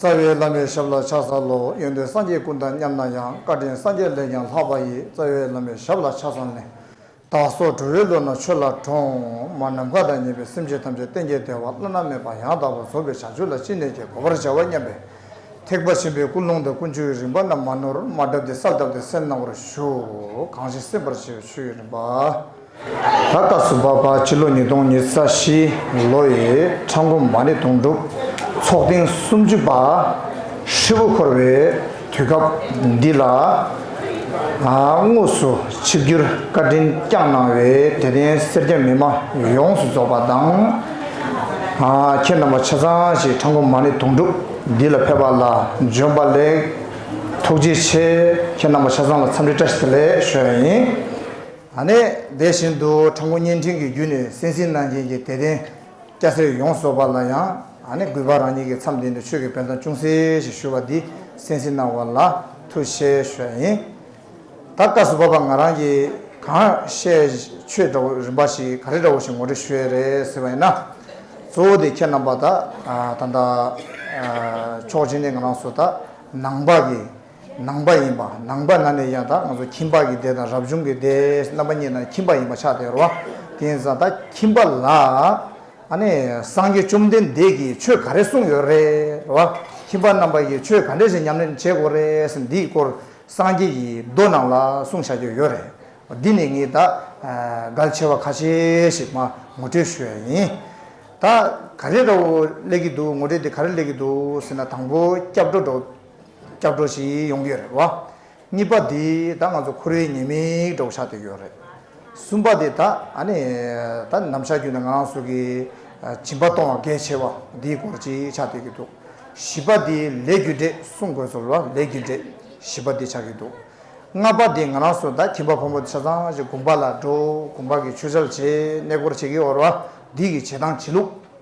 རྩ་བའི་བླ་མའི་ཞབས་ལ་ཕྱག་འཚལ་ལོ། ཡོན་ཏན་སངས་རྒྱས་ཀུན་དང་མཉམ་ན་ཡང་བཀའ་དྲིན་སངས་རྒྱས་ལས་ཀྱང་ལྷག་པ་ཡི་རྩ་བའི་བླ་མའི་ཞབས་ལ་ཕྱག་འཚལ་ནས། བདག་སོགས་གྲོལ་བའི་བློ་ན་ཆོས་ལ་གྲོང། མ་ནམ་མཁའ་དང་ཉེ་བའི་སེམས་ཅན་ཐམས་ཅད་བསྟན་རྒྱས་བདེ་བ་བླ་ན་མེད་པ་ཡང་དག་པར་རྫོགས་པའི་བྱང་ཆུབ་ལ་ཅི་ནས་ཀྱང་གོ་བར་བྱ་བ་སྙམ་པས། ཐེག་པ་ཆེན་པོའི་ཀུན་སློང་དང་ཀུན་སྤྱོད་ཀྱི་རིམ་པ་རྣམས་མ་ནོར་མ་བསྒྲབས་ཏེ་ས་བཏབ་སྟེ་སེམས་སྣང་བར་ཞུ། གང་ཞིག་སེམས་པར་བྱེད་པའི་ཆོས་ཀྱི་རིམ་པ། ད་ལྟ་སུ་བ་བ་སྤྱི་ལོ་ཉིས་སྟོང་ཉིས་རྩ་བཞི་ལོ་ཡི་ཕྲག་འགོ་མ་ནི་དོང་སྤྲུག་ཚོགས་ཐེངས་སུམ་ཅུ་པ་ཧྲིལ་བོ་འཁོར་བའི་དུས་སྐབས་འདི་ལ་དངོས་སུ་ཆིབས་བསྒྱུར་བཀའ་དྲིན་བསྐྱངས་གནང་བའི་དད་ལྡན་སེར་སྐྱ་མི་མང་ཡོངས་སུ་རྫོགས་པ་དང། ཁྱེད་རྣམ་པ་ཆ་ཚང་ཞིག་ཕྲག་འགོ་མ་ནི་དོང་སྤྲུག་འདི་ལ་ཕེབས་པ་ལ་འབྱོན་པ་ལེགས། ཐུགས་རྗེ་ཆེ་ཁྱེད་རྣམ་པ་ཆ་ཚང་ལ་འཚམས་འདྲི་བཀྲ་ཤིས་བདེ་ལེགས་ཞུ་བ་ཡིན། ད་ནས་བདེ་བཞིན་དུ་དྲང་པོ་བརྙན་འཕྲིན་གྱི་བརྒྱུད་ནས་སེམས་ཤིང་གནང་མཁན་གྱི་དད་ལྡན་སྐྱ་སེར་ཡོངས་རྫོགས་པ་ལ་ཡང་གུས་པ་རང་ཉིད་ཀྱི་མཚམས་འདི་ནས་ཆོས་ཀྱི་དཔལ་ཐང་ཅུང་ཟད་ཞིག་ཞུ་བ་འདི་སེམས་ཤིང་གནང་བ་ལ་ཐུགས་ཞེ་ཞོལ་ཡིན། ད་སྐབས་སུ་བབ་པ་ང་རང་གིས་གང་བཤད་ཆོས་འདྲ་བོ་རིམ་པ་ཞིག་ག་རེ་འདྲ་བོ་ཞིག་ངོ་སྤྲོད་ཞུས་རེད་ཟེར་བ་ཡིན་ན། གཙོ་བོ་དེ་ཁྱེད་རྣམ་པ་དག་ད་ལྟ་ཕྱོགས་གཅིག་ནས་ང་རང་སུ་དག་ནང་པ་གི། ནང་པ་ཡིན་པ་ནང་པ་ན་ནས་ཡང་དག་ང་ཚོ་ཁྱིམ་པ་གི་སྡེ་དང་རབ་བྱུང་གི་སྡེ་རྣམ་པ་གཉིས་ན་ཁྱིམ་པ་ཡིན་པ་ཆགས་སྡེར་བ་དེ་ཡིན་ཙང་ད་ཁྱིམ་པ་ལ་ཨ་ནི་སངས་རྒྱས་བཅོམ་ལྡན་འདས་ཀྱིས་ཆོས་ག་རེ་གསུངས་ཡོད་རེད་བ་ཁྱིམ་པ་རྣམ་པ་ཡིས་ཆོས་ག་འདྲས་ཞིག་ཉམས་ལེན་བྱེད་དགོས་རེད་འདིའི་སྐོར་སངས་རྒྱས་ཀྱིས་མདོ་རྣམས་ལ་གསུངས་བཞག་གི་ཡོད་རེད་བ་འདི་ནས་ངས་ད་གལ་ཆེ་བ་ཁ་ཤས་ཤིག་མ་ངོ་སྤྲོད་ཞུ་ཡ་ཡིན་ད་ག་རེ་ར་བོ་གླེགས་ཀྱི་འདུག་ངོ་སྤྲོད་དེ་ག་རེ་གླེགས་ཀྱི་འདུག་ཟེར་ན་དང་པོ་སྐྱབས་འགྲོ་འགྲོ། སྐྱབས་འགྲོ་ཞིག་ཡོང་གི་རེད་བ། གཉིས་པ་དེ་ད་ང་ཚོ་ཁོ་རའི་ཉེས་མིང་འདྲ་བོ་ཆགས་བསྡད་ཡོད་རེད། གསུམ་པ་དེ་ད་ཨ་ནི་ད་ནམ་ཞག་རྒྱུན་དུ་ང་རང་ཚོ་གི་སྦྱིན་པ་གཏོང་བ་གལ་ཆེ་བ་དེའི་སྐོར་ཅིག་ཆགས་བསྡད་ཀྱི་འདུག་བཞི་པ་དེ་ལས་རྒྱུ་འབྲས་གསུངས་དགོས་ཚོར་བ་ལས་རྒྱུ་འབྲས་བཞི་པ་དེ་ཆགས་ཀྱི་འདུག་ལྔ་པ་དེ་ང་རང་ཚོ་ད་ཁྱིམ་པ་ཕོ་མོ་ཆ་ཚང་ཞིག་དགོན་པ་ལ་འགྲོ་དགོན་པ་གི་ཆོས་འཆལ་བྱེད་གནས་སྐོར་བྱེད་ཀྱི་འོར་བ་དེའི་གི་བྱེད་སྟངས་བྱེད་ལུགས།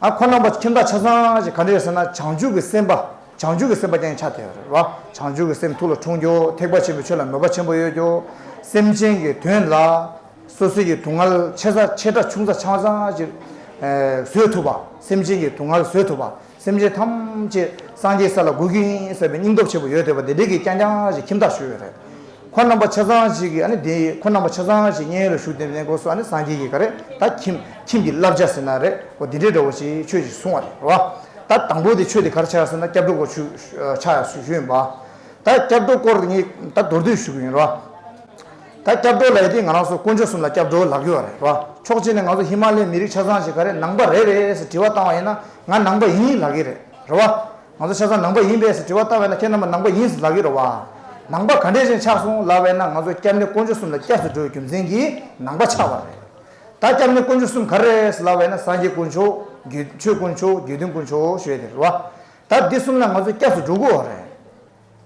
ཨ་ཁོ་རྣམ་པ་ཁྱིམ་བདག་ཆ་ཚང་ཞིག་ག་འདྲ་ཡོད་ཟེར་ན་བྱང་ཆུབ་ཀྱི་སེམས་དཔའ་བྱང་ཆུབ་ཀྱི་སེམས་དཔའ་རྐྱང་ཆགས་ཐལ་བ། བྱང་ཆུབ་ཀྱི་སེམས་ཐུགས་ལ་འཁྲུངས་རྒྱུ་ཐེག་པ་ཆེན་པོའི་ཆོས་ལ་མོས་པ་ཆེན་པོ་ཡོད་རྒྱུ། སེམས་ཅན་གྱི་དོན་ལ་སོ་སོའི་ཀྱི་དུང་ངལ་ཆེ་ས་ཆེ་ཕྲ་ཆུང་ས་ཆང་བ་ཚང་ཞིག་བཟོད་ཐུབ་པ། སེམས་ཅན་གྱི་དུང་ངལ་བཟོད་ཐུབ་པ། སེམས་ཅན་ཐམས་ཅད་སངས་རྒྱས་ས་ལ་འགོད་ཀྱི་ཡིན་ཟེར་བའི་སྙིང་སྟོབས་ཆེན་པོ་ཡོད་ཐལ་བ་འདི་འདྲ་གྱི་རྐྱང་རྐྱང་ཞིག་ཁྱིམ་བདག་ཞུ་ཡོད་རེད། ཁོ་རྣམ་པ་ཆ་ཚང་ཞིག་གིས་ཨ་ནི་དེ་ཁོ་རྣམ་པ་ཆ་ཚང་ཞིག་གཉེན་ཡོད་ལ་ཞུགས་ཏེ་ནི་གོ་སོ་ཨ་ནི་སངས་རྒྱས་ཀྱི་ག་རེ་ད་ཁྱིམ་ཁྱིམ་གྱི་བསླབ་བྱ་ཟེར་ན་རེ་གོ་དེ་འདྲའི་འདྲ་བོ་ཞིག་ཆོས་ཞིག་གསུང་བ་རེད་བ། ད་དང་པོ་དེ་ཆོས་དེ་གར་ཆགས་ཟེར་ན་སྐྱབས་འགྲོ་སྐོར་ཞུ་ཆ་ཞུས་ཡོད་བ། ད་སྐྱབས་འགྲོ་སྐོར་ངས་ད་མདོར་བསྡུས་ཞུ་གི་ཡོད་རེད་བ། ད་སྐྱབས་འགྲོ་ལ་ཡི་དེ་ང་རང་ཚོ་དཀོན་མཆོག་གསུམ་ལ་སྐྱབས་འགྲོ་ལག་གི་བ་རེད་བ། ཕྱོགས་གཅིག་ནས་ང་ཚོ་ཧི་མ་ལའི་མི་རིགས་ཆ་ཚང་ཞིག་ག་རེ་ནང་པ་རེད་རེད་ཟེར་དྲི་བ་བཏང་བ་ཡིན་ན་ང་ནང་པ་ཡིན་ལག་གི་རེད་བ། ང་ཚོ་ཆ་ཚང་ནང་པ་ཡིན་པས་ཟེར་དྲི་བ་བཏང་བས་ན་ཁྱེད་རྣམ་པ་ནང་པ་ཡིན་ཟེར་ལབ་ཡོད་རེད་བ། ནང་པ་ག་འདྲས་ཅན་ཆགས་སོང་ལབ་བས་ན་ང་ཚོ་སྐྱབས་གནས་དཀོན་མཆོག་གསུམ་ལ་སྐྱབས་སུ་འགྲོ་བའི་རྒྱུ་མཚན་གྱིས་ནང་པ་ཆགས་བ་རེད། ད་སྐྱབས་གནས་དཀོན་མཆོག་གསུམ་ག་རེད་ཟེར་ལབ་བས་ན་སངས་རྒྱས་དཀོན་མཆོག། རྒྱུད་ཆོས་དཀོན་མཆོག་རྒྱུད་དོན་དཀོན་མཆོག་ཞེས་དེ་རེད་བ། ད་འདི་གསུམ་ལ་ང་ཚོ་སྐྱབས་སུ་འགྲོ་དགོས་བ་རེད།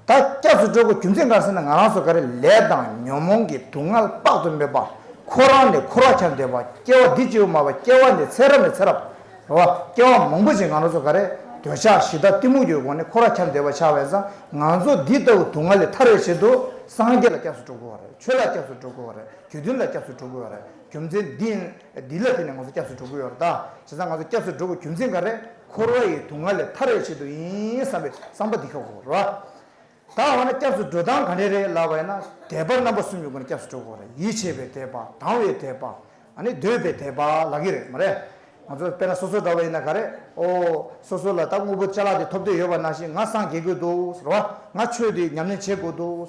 ད་སྐྱབས་སུ་འགྲོ་དགོས་རྒྱུ་མཚན་གང་ཟེར་ན་ང་རང་ཚོ་ག་རེ་ལས་དང་ཉོན་མོངས་ཀྱི་དུག་ལྔ་ལ་རྟག་ཏུ་སྨོད་པ། ཁོ་རང་ནས་ཁོ་རང་ཆ་འདོད་པ། སྐྱེ་བ་འདི་བཅོས་བུ་མ་བ་སྐྱེ་བ་ནས་ཚེ་རབས་ནས་ཚེ་རབས་བར་སྐྱེ་བ་མང་པོ་ཅིག་ང་རང་ཚོ་ག་རེ་འདོད་ཆགས་གཞི་བདག་གཏི་མུག་གྱོད་གོང་ནས་ཁོ་རང་ཆ་འདོད་པ་ཆགས་བས་སང་ང་ཚོ་འདི་ལྟ་བུ་དུག་ལྔ་ལས་ཐར་བའི་ཆེད་དུ་སངས་རྒྱས་ལ་སྐྱབས་སུ་འགྲོ་དགོས་བ་རེད་ཆོས་ལ་སྐྱབས་སུ་འགྲོ་དགོས་བ་རེད་དགེ་འདུན་ལ་སྐྱབས་སུ་འགྲོ་དགོས་བ་རེད་རྒྱུ་མཚན་འདི་ཡིན། འདི་ལ་བརྟེན་ནས་ང་ཚོ་སྐྱབས་སུ་འགྲོ་གི་ཡོད་རེད་དཱ། བྱས་ཙང་ང་ཚོ་སྐྱབས་སུ་འགྲོ་དགོས་རྒྱུ་མཚན་ག་རེད། འཁོར་བ་ཡི་དུག་ལྔ་ལས་ཐར་བའི་ཆེད་དུ་ཡིན་བསམ་པའི་བསམ་པ་འདི་ཁག་གོ་རེད། ད་འོ་ན་སྐྱབས་སུ་འགྲོ་སྟངས་ག་འདྲས་རེད་ལབ་པ་ཡིན་ན། དད་པ་རྣམ་པ་གསུམ་ཡོད་དགོས་ན་སྐྱབས་སུ་འགྲོ་དགོས་རེད་ཡིད་ཆེས་པའི་དད་པ་དང་བའི་དད་པ། ནི་འདོད་པའི་དད་པ་ལགས་ཀྱི་རེད་མ་རེད། ང་ཚོ་དཔེར་ན་སོ་སོ་འདྲ་བ་ཡིན་ན་ག་རེད། ཨོ། སོ་སོ་ལ་ད་དངོས་པོ་ཆ་ལག་དེ་ཐོབ་འདོད་ཡོད་པ་ནང་བཞིན་ང་སངས་རྒྱས་དགོས་འདུག་རེད་བ། ང་ཆོས་འདི་ཉམས་ལེན་བྱེད་དགོས་འདུག་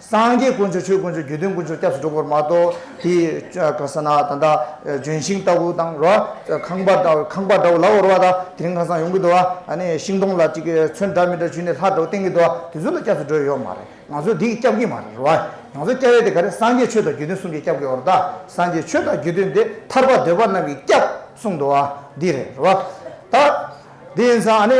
སངས་རྒྱས་དཀོན་མཆོག་ཆོས་དཀོན་མཆོག་རྒྱུད་དོན་དཀོན་མཆོག་སྐྱབས་སུ་འགྲོ་དགོས་པར་མ་གཏོགས་དེ། ཁ་ས་ན་ད་ལྟ་ལྗོན་ཤིང་ལྟ་བུ་དང་རོ་ཁང་པ་འདྲ་ཁང་པ་འདྲ་བོ་ལ་བོར་བ་དང་དེ་རིང་ཁང་བཟང་ཡོང་གི་འདུག་ཨ་ནི་ཤིང་སྡོང་ལ་ཅིག་ཚོན་འདྲ་མི་འདྲ་བྱུས་ནས་ལྷ་འདྲ་བོ་བསྟན་གི་འདུག་དེ་ཚོ་ལ་སྐྱབས་སུ་འགྲོ་ཡི་ཡོད་མ་རེད་ང་ཚོས་དེ་ཡིས་སྐྱབས་ཀྱི་མ་རེད་རོ། ང་ཚོ་སྐྱབས་ཡས་དེ་ག་རེད་སངས་རྒྱས་ཆོས་དང་རྒྱུད་དོན་གསུམ་གྱིས་སྐྱབས་དགོས་རོ་ད་སངས་རྒྱས་ཆོས་དང་རྒྱུད་དོན་དེ་ཐར་པ་འདོད་པ་རྣམས་ཀྱིས་སྐྱབས་གསུངས་འདུག་ཨ་འདི་རེད་རོ། ད་དེ་ཡིན་ཙང་ཨ་ནི།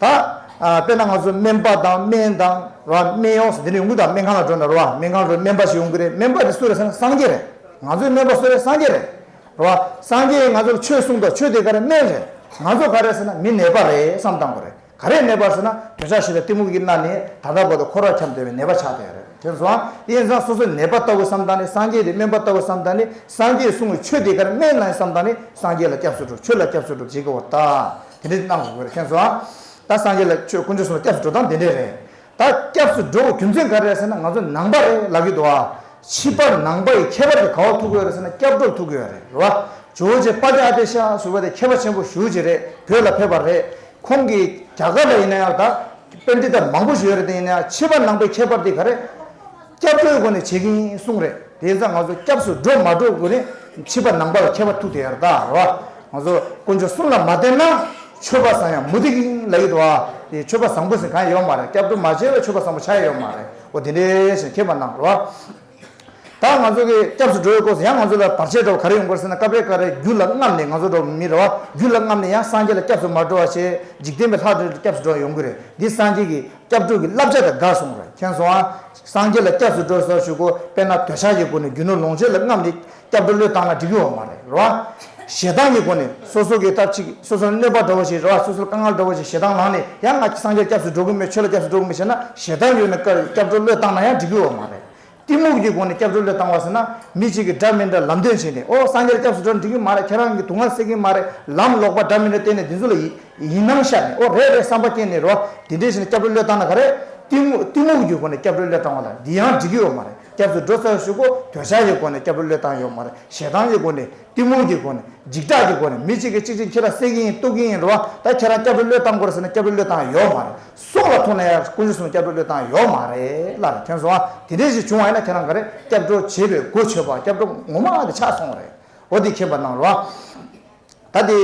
ད། དཔེར་ན་ང་ཚོ་སྨན་པ་དང་སྨན་དང་ར་སྨན་ཡོངས་སུ་དེ་འདྲའི་ཡོང་གི་དང་སྨན་ཁང་ལ་འགྲོ་ན་ར་བ་སྨན་ཁང་འགྲོ་སྨན་པ་ཞིག་ཡོང་གི་རེད་སྨན་པ་དེ་སུ་རེད་ཟེར་ན་སངས་རྒྱས་རེད་ང་ཚོའི་སྨན་པ་སུ་རེད་སངས་རྒྱས་རེད་ར་བ་སངས་རྒྱས་ང་ཚོར་ཆོས་གསུངས་ཐོག་ཆོས་དེ་ག་རེད་སྨན་རེད་ང་ཚོ་ག་རེད་ཟེར་ན་མི་ནད་པ་རེད་བསམ་སྟངས་དགོས་རེད་ག་རེད་ནད་པ་ཟེར་ན་གྱོད་ཆག་ཞིག་ལ་གཏི་མུག་གིས་མནར་ནས་ད་ལྟ་བར་དུ་འཁོར་བར་འཁྱམས་སྡོད་པའི་ནད་པ་ཆགས་སྡོད་རེད་དེ་སོང་དབྱེ་མཚང་སོ་སོ་ནད་པ་ལྟ་བུ་བསམ་སྟངས་ནི་སངས་རྒྱས་དེ་སྨན་པ་ལྟ་བུ་བསམ་སྟངས་ནི་སངས་རྒྱས་གསུངས་བའི་ཆོས་དེ་ག་རེད་སྨན་རེད་བསམ་སྟངས་ནི་སངས་རྒྱས་ལ་སྐྱབས་སུ་འགྲོ་ཆོས་ལ་སྐྱབས་སུ་འགྲོ་བྱེད་ཀྱི་འོ་ད། དེ་འདྲའི་གནང་དགོས་ལ་མཁན་ཚོ། ད་སངས་རྒྱས་ལ་ཆོས་དཀོན་མཆོག་གསུངས་ན་སྐྱབས་སུ་འགྲོ་སྟངས་དེ་འདྲས་རེད། ད་སྐྱབས་སུ་འགྲོ་བའི་རྒྱུ་མཚན་ག་རེད་ཟེར་ན་ང་ཚོ་ནང་པ་རེད་ལབ་ཀྱི་འདུག་ཨ། ཕྱི་པ་ནང་པ་ཡི་ཁྱད་པར་དེ་ག་བ་ཐུག་གི་ཡོད་རེད་ཟེར་ན་སྐྱབས་འགྲོ་ཐུག་གི་ཡོད་རེད་རེད་བ། ཇོ་ཇེ་དཔའ་ལྡན་ཨ་ཏེ་ཤ་ཟུར་བ་དེ་མཁས་པ་ཆེན་པོ་ཞུ་བྱེད་རེད་བོད་ལ་ཕེབས་པ་རེད། ཁོང་གིས་རྒྱ་གར་ལ་ཡིན་ན་ཡང་ད་དཔེ་འདི་ལྟར་མང་པོ་ཞུ་ཡོད་རེད་དེ་ཡིན་ན་ཡང་ཕྱི་པ་ནང་པའི་ཁྱད་པར་དེ་ག་རེད། སྐྱབས་འགྲོའི་སྒོ་ནས་བྱེད་ཀྱིན་གསུངས་རེད་དེ་ཡིན་ཙང་ང་ཚོ་སྐྱབས་སུ་འགྲོ་མ་འགྲོ་དགོས་ནི་མཆིས་པ་ནང་པ་ལ་ཁྱད་པ་ཐུག་དེ་ཡར་ལྟ་ར་བ་ང་ཚོ་དཀོན་མཆོག་གསུམ་ལ་མ་བསྟེན་ན་ཆོས་པ་བཟང་ཡང་མུ་སྟེགས་ཡིན་ལ་ཡིད་བ་དེ་ཆོས་པ་བཟང་པོ་ཟིན་གང་ཡང་ཡོད་མ་རེད་སྐྱབས་འགྲོ་མ་བྱས་པའི་ཆོས་པ་བཟང་པོ་ཆགས་ཡས་ཡོད་མ་རེད་འོ་དེ་འདྲའི་ཆེ་མཁས་པ་ནང་ར་བ་དག་ང་ཚོ་གི་སྐྱབས་སུ་འགྲོ་བའི་སྐོར་སོ་ཡང་ང་ཚོ་ལ་བར་ཆད་འགྲོ་བ་ག་རེ་ཡོང་དགོས་ཟེར་ན་སྐབས་རེ་སྐབས་རེ་རྒྱུ་ལ་རྔམ་ནས་ང་ཚོ་འགྲོ་བ་མིན་ར་བ་རྒྱུ་ལ་རྔམ་ནས་ཡང་སངས་རྒྱས་ལ་སྐྱབས་སུ་མ་འགྲོ་བ་ཆེ་འཇིག་རྟེན་པའི་ལྷ་འདྲེ་ལ་སྐྱབས་སུ་འགྲོ་བ་ཡོང་གི་རེད་འདི་སངས་རྒྱས་ཀྱི་སྐྱབས་འགྲོ་གི་བསླབ་བྱ་དང་དགའ་གསུང་ར་མཁན་སོགས་ཨང་སངས་རྒྱས་ལ་སྐྱབས་སུ་འགྲོ་ཟེར་ཞུ་གོ་དཔེར་ན་འདོད་ཆགས་ཀྱི་སྒོ་ནས་རྒྱུ་ནོར་ལོངས་སྤྱོད་ལ་རྔམས་ཏེ་སྐྱབས་འགྲོ་བློས་བཏང་ན་འགྲིག་གི་འོང་བ་རེད་རེད་བ། ཞེ་སྡང་གི་སྒོ་ནས་སོ་སོ་གི་ཐབས་ཅིག་སོ་སོར་གནོད་པ་འགྲོ་བ་ཞིག་རེད་བ་སོ་སོར་དཀའ་ངལ་འགྲོ་བ་ཞིག་ཞེ་སྡང་ལངས་ནས་ཡང་ང་སངས་རྒྱས་ལ་སྐྱབས་སུ་འགྲོ་གི་མེད་ཆོས་ལ་སྐྱབས་སུ་འགྲོ་གི་མེད་ཞེ་ན་ཞེ་སྡང་ཡོད་ནས་སྐྱབས་འགྲོ་བློས་བཏང་ན་ཡང་འགྲིག་གི་འོང་བ་རེད་གཏི་མུག་གི་སྒོ་ནས་སྐྱབས་འགྲོ་བློས་བཏང་བ་ཟེར་ན་མི་གཅིག་གིས་འདྲ་མི་འདྲ་ལམ་སྟོན་བྱས་ནས་ཨོ་སངས་རྒྱས་སྐྱབས་སུ་འགྲོ་འགྲིག་གི་མ་རེད་ཁྱེད་རང་གི་དུག་ལྔ་སེལ་གི་མ་རེད་ལམ་ལོག་པ་འདྲ་མི་འདྲ་བསྟན་ནས་འདི་ཚོ་ལ་ཡིད་སྣང་ཤར་ནས་ཨོ་རེད་རེད་བསམ་པ་སྐྱེས་ནས་རོ་དེ་འདྲའི་ཞིག་ནས་སྐྱབས་འགྲོ་བློས་བཏང་ན་ག་རེ། གཏི་གཏི་མུག་གི་སྒོ་ནས་སྐྱབས་འགྲོ་བློས་བཏང་བ་ལ་འདི་ཡང་འགྲིག་གི་ཡོད་མ་རེད་སྐྱབས་སུ་འགྲོ་ཚར་ཞུགས་གོ་གྱོད་ཆག་གི་སྒོ་ནས་སྐྱབས་འགྲོ་བློས་བཏང་ཡོད་མ་རེད་ཞེ་སྡང་གི་སྒོ་ནས་གཏི་མུག་གི་སྒོ་ནས་འཇིགས་སྐྲག་གི་སྒོ་ནས་མི་གཅིག་གིས་གཅིག་གཅིག་ཁྱེད་རང་སེལ་གི་ཡིན་གཏུག་གི་ཡིན་རོ་ད་ཁྱེད་རང་སྐྱབས་འགྲོ་བློས་བཏང་དགོས་རེད་ཟེར་ན་སྐྱབས་འགྲོ་བློས་བཏང་ཡོད་མ་རེད། སྲོག་ལ་ཐུག་ན་ཡང་སྐུ་ཉིད་གསུམ་སྐྱབས་འགྲོ་བློས་བཏང་ཡོག་མ་རེད་སླར་ཐེངས་སོང་ཨ་དེ་འདྲས་ཞིག་བྱུང་བ་ཡིན་ན་ཁྱེད་རང་ག་རེ་སྐྱབས་འགྲོ་བྱེད་པའི་སྒོ་ཆོད་པ་སྐྱབས་འགྲོ་ངོ་མ་ཨ་དེ་ཆགས་སོང་རེད་འོ་དེ་མཁྱེན་པ་གནང་རོགས་ཨ་ད་དེ་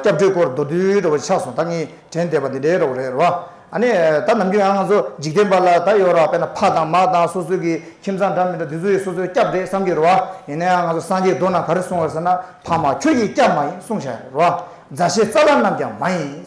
སྐྱབས་འགྲོའི་སྐོར་མདོར་བསྡུས་རེ་བ་ཆགས་སོང་ད་ངས་དྲན་བསྡད་པ་དེ་འདྲས་རོགས་རེད་རོགས་ཨ་ནི་ད་ནམ་རྒྱུན་ཡང་ང་ཚོ་འཇིག་རྟེན་པ་ལ་ད་ཡོད་རོགས་དཔེར་ན་ཕ་དང་མ་དང་སོ་སོའི་གི་ཁྱིམ་ཚང་འདྲ་མི་འདྲ་དེ་ཚོ་ཡི་སོ་སོའི་སྐྱབས་རེད་བསམ་གྱི་རོགས་ཨ་ཡིན་ན་ཡང་ང་ཚོ་སངས་རྒྱས་རྡོ་ན་ག་རེ་གསུང་བར་ཟེར་ན་ཕ་མ་ཁྱོད་ཀྱི་སྐྱབས་མ་ཡིན་གསུང་བྱ་རོགས་ཨ་མཛའ་བཤེས་རྩ་ལ་རྣམས་ཀྱང་མ་ཡིན།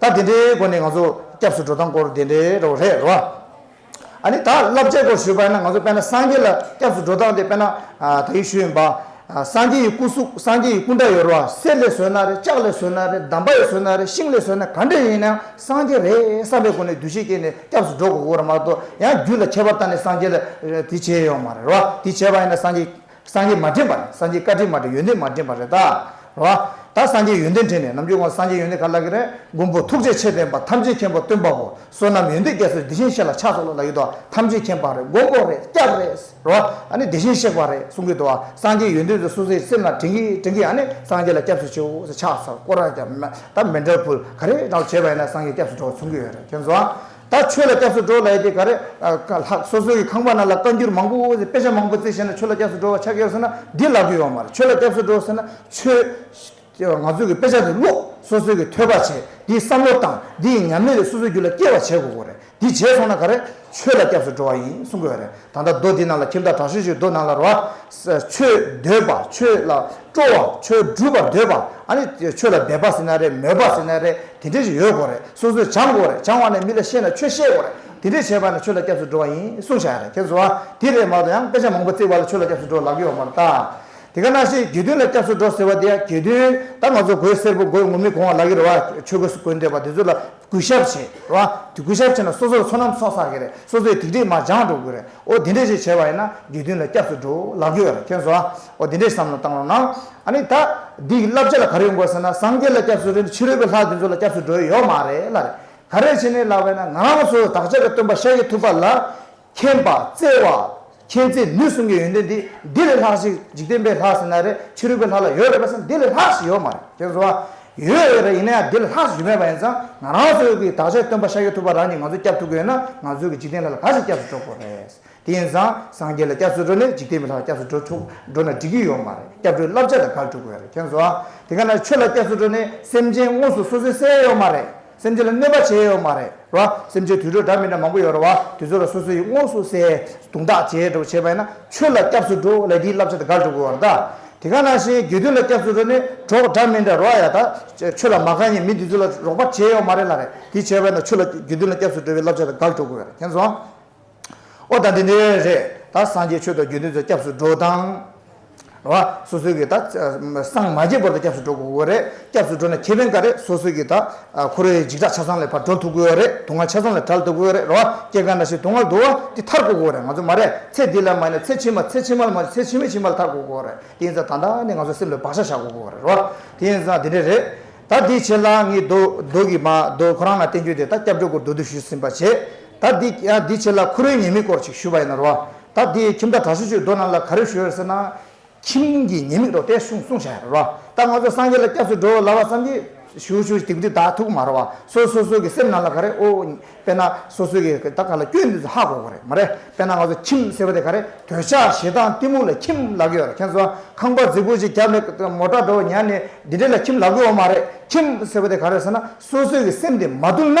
ད་དེ་འདྲའི་སྒོ་ནས་ང་ཚོ་སྐྱབས་སུ་འགྲོ་སྟངས་སྐོར་དེ་འདྲའི་རོགས་རེད་རེད་བ། ཨ་ནི་ད་བསླབ་བྱའི་སྐོར་ཞུས་པ་ཡིན་ན་ང་ཚོ་དཔལ་ན་སངས་རྒྱས་ལ་སྐྱབས་སུ་འགྲོ་སྟངས་དེ་དཔལ་ན་ད་ཡིག་ཞུས་ཡིན་པ། སངས་རྒྱས་ཡི་སྐུ་གཟུགས་སངས་རྒྱས་ཡི་སྐུ་འདྲ་ཡོད་རེད་བ་གསེར་ལས་བཟོས་ན་རེད་ལྕགས་ལས་བཟོས་ན་རེད་འདམ་པ་ཡིས་བཟོས་ན་རེད་ཤིང་ལས་བཟོས་ན་ག་འདྲ་ཡིན་ཡང་སངས་རྒྱས་རེད་བསམ་པའི་སྒོ་ནས་འདུ་ཤེས་སྐྱེས་ནས་སྐྱབས་སུ་འགྲོ་དགོས་དགོས་རེད་མ་གཏོགས་ཡང་རྒྱུད་ལ་ཁྱད་པར་བཏང་ནས་སངས་རྒྱས་ལ་དེ་བྱས་ཡོང་མ་རེད་བ་དེ་བྱས་པ་ཡིན་ན་སངས་རྒྱས་སངས་རྒྱས་མ་དྲན་པ་ནི་སངས་རྒྱས་བཀའ་དྲིན་མ་དྲན་ཡོན་ཏན་མ་དྲན་པ་རེད་ད། བ། ད་སངས་རྒྱས་ཡོན་ཏན་དྲན་ནས་ནམ་རྒྱུན་ཁོང་སངས་རྒྱས་ཡོན་ཏན་ག་ལ་གི་རེད་མགོན་པོ་ཐུགས་རྗེ་ཆེ་བསྟན་པ་ཐམས་ཅད་མཁྱེན་པ་སྟོན་པ་པོ་བསོད་ནམས་ཡོན་ཏན་རྒྱ་མཚོས་འདི་བཞིན་གཤེགས་ལ་ཕྱག་འཚོགས་ལ་ལ་ཡོད་དོ་ཐམས་ཅད་མཁྱེན་པ་རེད་མགོན་པོ་རེད་སྐྱབས་རེད། བ། ཨ་ནི་དེ་བཞིན་གཤེགས་པ་རེད་གསུང་གི་འདུག་བ་སངས་རྒྱས་ཡོན་ཏན་ཚོས་སུ་ཟིག་སེམས་ལ་དྲན་གི་དྲན་གི་ཨ་ནི་སངས་རྒྱས་ལ་སྐྱབས་སུ་མཆིའོ་ཟེར་ཕྱག་འཚོགས་སྐོར་ར་རྒྱབ་མེད་ད་མེད་འདྲ་བུ་ག་རེ་འདྲ་བོ་བྱས་པ་ཡིན་ན་སངས་རྒྱས་སྐྱབས་སུ་འགྲོ་བ་མཚུངས་ཀྱི་ཡོད་རེད་མཁྱེན་བཟང། ད་ཆོས་ལ་སྐྱབས་སུ་འགྲོ་ལ་ཡི་གེ་ག་རེ་ག་ལགས་སོ་སོའི་གི་ཁང་པ་ན་ལ་བཀའ་འགྱུར་མང་པོ་འོ་དཔེ་ཆ་མང་པོ་བརྩི་ཤེས་ན་ཆོས་ལ་སྐྱབས་སུ་འགྲོ་བ་ཆགས་ཡོད་ཟེར་ན་འདི་ལགས་ཀྱི་ཡོད་མ་རེད་ཆོས་ལ་སྐྱབས་སུ་འགྲོ་ཟེར་ན་ཆོས་ང་ཚོའི་གི་དཔེ་ཆ་དེ་ཀློག་སོ་སོའི་གི་ཐོས་པ་བྱས་དེའི་བསམ་བློ་དང་དེའི་ཉམས་ལེན་རེ་སོ་སོའི་རྒྱུད་ལ་སྐྱེ་བ་བྱེད་དགོས་གོ་རེད་དེ་བྱས་སོང་ན་ག་རེ་ཆོས་ལ་སྐྱབས་སུ་འགྲོ་བ་ཡིན་གསུང་གི་ཡོད་རེད་ད་ལྟ་རྡོ་འདི་ནང་ལ་ཁྱིམ་བདག་དྲག་ཤོས་ཤིག་རྡོ་ནང་ལ་རོ་ཆོས་འདོད་པ་ཆོས་ལ་སྤྲོ་བ་ཆོས་སྒྲུབ་པར་འདོད་པ་ཨ་ནི་ཆོས་ལ་དད་པ་ཟེར་ན་རེད་མོས་པ་ཟེར་ན་རེད་དེ་འདྲས་ཞིག་ཡོད་དགོས་རེད་སོ་སོས་སྦྱང་དགོས་རེད་སྦྱང་བ་ནས་མི་ལ་བཤད་ན་ཆོས་བཤད་དགོས་རེད་དེ་འདྲས་བྱས་པ་ནས་ཆོས་ལ་སྐྱབས་སུ་འགྲོ་བ་ཡིན་གསུང་བྱ་ཡ་རེད་ཁྱེད་ཚོ་ཨ་དེ་རེད་མ་གཏོགས་ཡང་དཔེ་ཆ་མང་པོ་བརྩིས་བ་ལ་ཆོས་ལ་སྐྱབས་སུ་འགྲོ་ལག་ཡོད་པ་མ་རེད་ད་དེ་ག་ནང་བཞིན་དགེ་འདུན་ལ་སྐྱབས་སུ་འགྲོ་ཟེར་བ་དེ་ཡང་དགེ་འདུན་ད་ང་ཚོ་གོས་སེར་པོ་གོས་ངུར་སྨྲིག་གོང་བ་ལག་གི་རོ་བ་ཆོས་གོས་སུ་གོས་འདོད་པ་དེ་ཚོ་ལ་གུས་ཞབས་བྱེད་ལ། དེ་གུས་ཞབས་བྱེད་ན་སོ་སོར་ཚོ་ནམ་སོང་ས་གི་རེད་སོ་སོའི་ཐིག་འབྲས་མ་སྦྱངས་འགྲོ་གི་རེད་ཨོ་དེ་འདྲས་ཞིག་བྱས་པ་ཡིན་ན་དགེ་འདུན་ལ་སྐྱབས་སུ་འགྲོ་ལགས་ཀྱི་ཡོད་ཁྱོད་ཟོ་ཨོ་དེ་འདྲས་བསམ་བློ་བཏང་རོགས་གནང་ཨ་ནི་ད་འདི་གི་བསླབ་བྱ་ལ་ག་རེ་ཡོང་དགོས་ཟེར་ན་སངས་རྒྱས་ལ་སྐྱབས་སུ་རེད་ཕྱི་རོལ་པའི་ལྷ་དེ་ཚོ་ལ་སྐྱབས་སུ་འགྲོ་ཡི་ཡོད་མ་རེད་ལ་རེད་ག་རེ་བྱས་ནས་ལགས་པས་ན་ང་རང་ཚོའི་བདག་ཅག་གི་སྟོན་པ་ཤཱཀྱ་ཐུབ་པ་ལ་མཁྱེན་པ་བཙལ་བ། མཁྱེན་བརྩེ་ནུས་གསུམ་གྱི་ཡོན་ཏན་དེ་འདི་ལས་ལྷག་ཞིག་འཇིག་རྟེན་པའི་ལྷ་ཟེར་ན་རེད་ཕྱི་རོལ་པའི་ལྷ་ལ་ཡོད་རེད་པ་ཟེར་ན་དེ་ལས་ལྷག་ཞིག་ཡོད་མ་རེད་ཁྱེད་གསོལ་བ། ཡོད་ཡོད་རེད་ཡིན་ན་ཡང་དེ་ལས་ལྷག་ཞིག་ཞུ་མེད་པ་ཡིན་ཙང་ང་རང་ཚོའི་ཡོད་ཀྱི་དག་ཆ་སྟོན་པ་ཤཱཀྱ་ཐུབ་པ་རང་གིས་ང་ཚོ་སྐྱབས་ཐུབ་ཀྱི་ཡོད་ན་ང་ཚོའི་ཡོད་ཀྱི་འཇིག་རྟེན་ལྷ་ལ་ག་ཚོད་སྐྱབས་སུ་འགྲོ་དགོས་རེད། དེ་ཡིན་ཙང་སངས་རྒྱས་ལ་སྐྱབས་སུ་འགྲོ་ནས་འཇིག་རྟེན་པའི་ལྷ་ལ་སྐྱབས་སུ་འགྲོ་ཆོག་འགྲོ་ན་འགྲིག་གི་ཡོད་མ་རེད་སྐྱབས་འགྲོའི་བསླབ་བྱ་དང་ག་ལ་འཁྲུག་དགོས་རེད་ཁྱེད་གསོལ་བ། དེ་ག་ནང་ཆོས་ལ་སྐྱབས་སུ་འགྲོ་ནས་སེམས་ཅན་དངོས་སུ་སོ་སོའི་སའི་ཡོད་མ་རེད། སེམས་ཅན་ལ་གནོད་པ་བྱས་ཡོད་མ་རེད་ར། སེམས་ཅན་དུད་འགྲོ་འདྲ་མི་འདྲ་མང་པོ་ཡོད་ར་བ། དེ་ཚོ་ལ་སོ་སོ་ཡི་དངོས་སུ་བསད་རྡུང་དག་བྱས་འདྲ་བོ་བྱས་པ་ཡིན་ན་ཆོས་ལ་སྐྱབས་སུ་འགྲོ་ལས་དེའི་བསླབ་བྱ་དེ་དགར་འགྲོ་དགོས་བ་རེད་ད། དེ་ག་ནང་བཞིན་དགེ་འདུན་ལ་སྐྱབས་སུ་འགྲོ་ནི་གྲོགས་འདྲ་མི་འདྲ་ར་ཡ་ད། ཆོས་ལ་མ་གང་ཡིན་མི་དེ་ཚོ་ལ་རོགས་པ་བྱས་ཡོད་མ་རེད་ལ་རེད་དེ་བྱས་པ་ཡིན་ན་ཆོས་ལ་དགེ་འདུན་ལ་སྐྱབས་སུ་འགྲོ་བའི་བསླབ་བྱ་དེ་དགར་འགྲོ་དགོས་བ་རེད་དེ་ཚོ། ཨོ་ད་འདི་འདི་རེད་ད་སངས་རྒྱས་ཆོས་དང་རྒྱུ་འདི་ཚོ་སྐྱབས་སུ་འགྲོ་དང། བ། སོ་སོའི་གི་ད་སངས་མ་རྒྱས་བར་དུ་སྐྱབས་སུ་འགྲོ་དགོས་དགོས་རེད་སྐྱབས་སུ་འགྲོ་ན་ཁེ་ཕན་ག་རེད་སོ་སོའི་གི་ད་ཁོ་རེ་འཇིགས་སྐྲག་ཆ་ཚང་ལས་བར་འགྲོ་ཐུབ་དགོས་རེད་དུག་ལྔ་ཆ་ཚང་ལས་བྲལ་ཐུབ་དགོས་རེད་ར་བ་སྐྱེ་རྒ་ན་ཤི་དུག་ལྔ་དུག་བ་འདི་ཐར་དགོས་དགོས་རེད་ང་ཚོ་མ་རེད་ཚེ་འདི་ལ་མ་ནས་ཚེ་ཕྱི་མ་ཚེ་ཕྱི་མ་ལ་མ་ཚེ་ཕྱི་མའི་ཕྱི་མ་ལ་ཐར་དགོས་དགོས་རེད་དེ་ཡིན་ཙང་ད་ལྟ་ནས་ང་ཚོ་སེམས་ལ་བག་ཆགས་བཞག་དགོས་དགོས་རེད་ར་བ་དེ་ཡིན་ཙང་འདི་འདྲ་རེད་ད་འདི་བྱེད་ལ་ངས་རྡོ་རྡོ་གི་མ་རྡོ་ཁོ་རང་ལ་བསྟན་རྒྱུ་དེ་ད་སྐྱབས་འགྲོ་སྐོར་རྡོ་རྡོ་ཞུས་ཟིན་པ་བྱས་ད་འདི་འདི་བྱེད་ལ་ཁུ་རུའི་ཉེས་དམིགས་སྐོར་ཅིག་ཞུས་པ་ཡིན་ནོ། ད་འདི་ཁྱིམ་བདག་གྲྭ་ཆུ་ཆུས་རྡོ་རྣམས་ལ་ག་རེ་ཞུ་ཡོད་ཟེར་ན། ཁྱིམ་གྱི་ཉེས་དམིགས་རོ་དེ་གསུངས་གསུངས་བྱ་ཡ་རོ། ད་ང་ཚོ་སངས་རྒྱས་ལ་སྐྱབས་སུ་འགྲོ་ལ་བ་ཙམ་གྱི་ཞུ་ཞུ་དེ་འདི་ད་ཐུག་མ་རོ་བ་སོ་སོ་སོ་གི་སེམས་ནང་ལ་ག་རེ་ཨོ། དཔེར་ན་སོ་སོ་གི་ད་ག་ལ་སྐྱོན་འདི་ཚོ་ཧ་གོ་གོ་རེད་མ་རེད་དཔེར་ན་ང་ཚོ་ཁྱིམ་ཟེར་བ་དེ་ག་རེ་དོལ་ཆ་ཞེ་སྡང་གཏི་མུག་ལ་ཁྱིམ་ལ་གི་ཡོད་ར་མཁྱེན་ཚོ་ཁང་པ་རྫིག་པོ་ཅིག་རྒྱབ་ནས་མོ་དགྲ་འགྲོ་བ་ཉར་ནས་འདི་འདྲེ་ལ་ཁྱིམ་ལ་གི་ཡོད་མ་རེད་ཁྱིམ་ཟེར་བ་དེ་ག་རེ་ཟེར་ན་སོ་སོ་གི་སེམས་དེ་མ་བསྡུར་ན།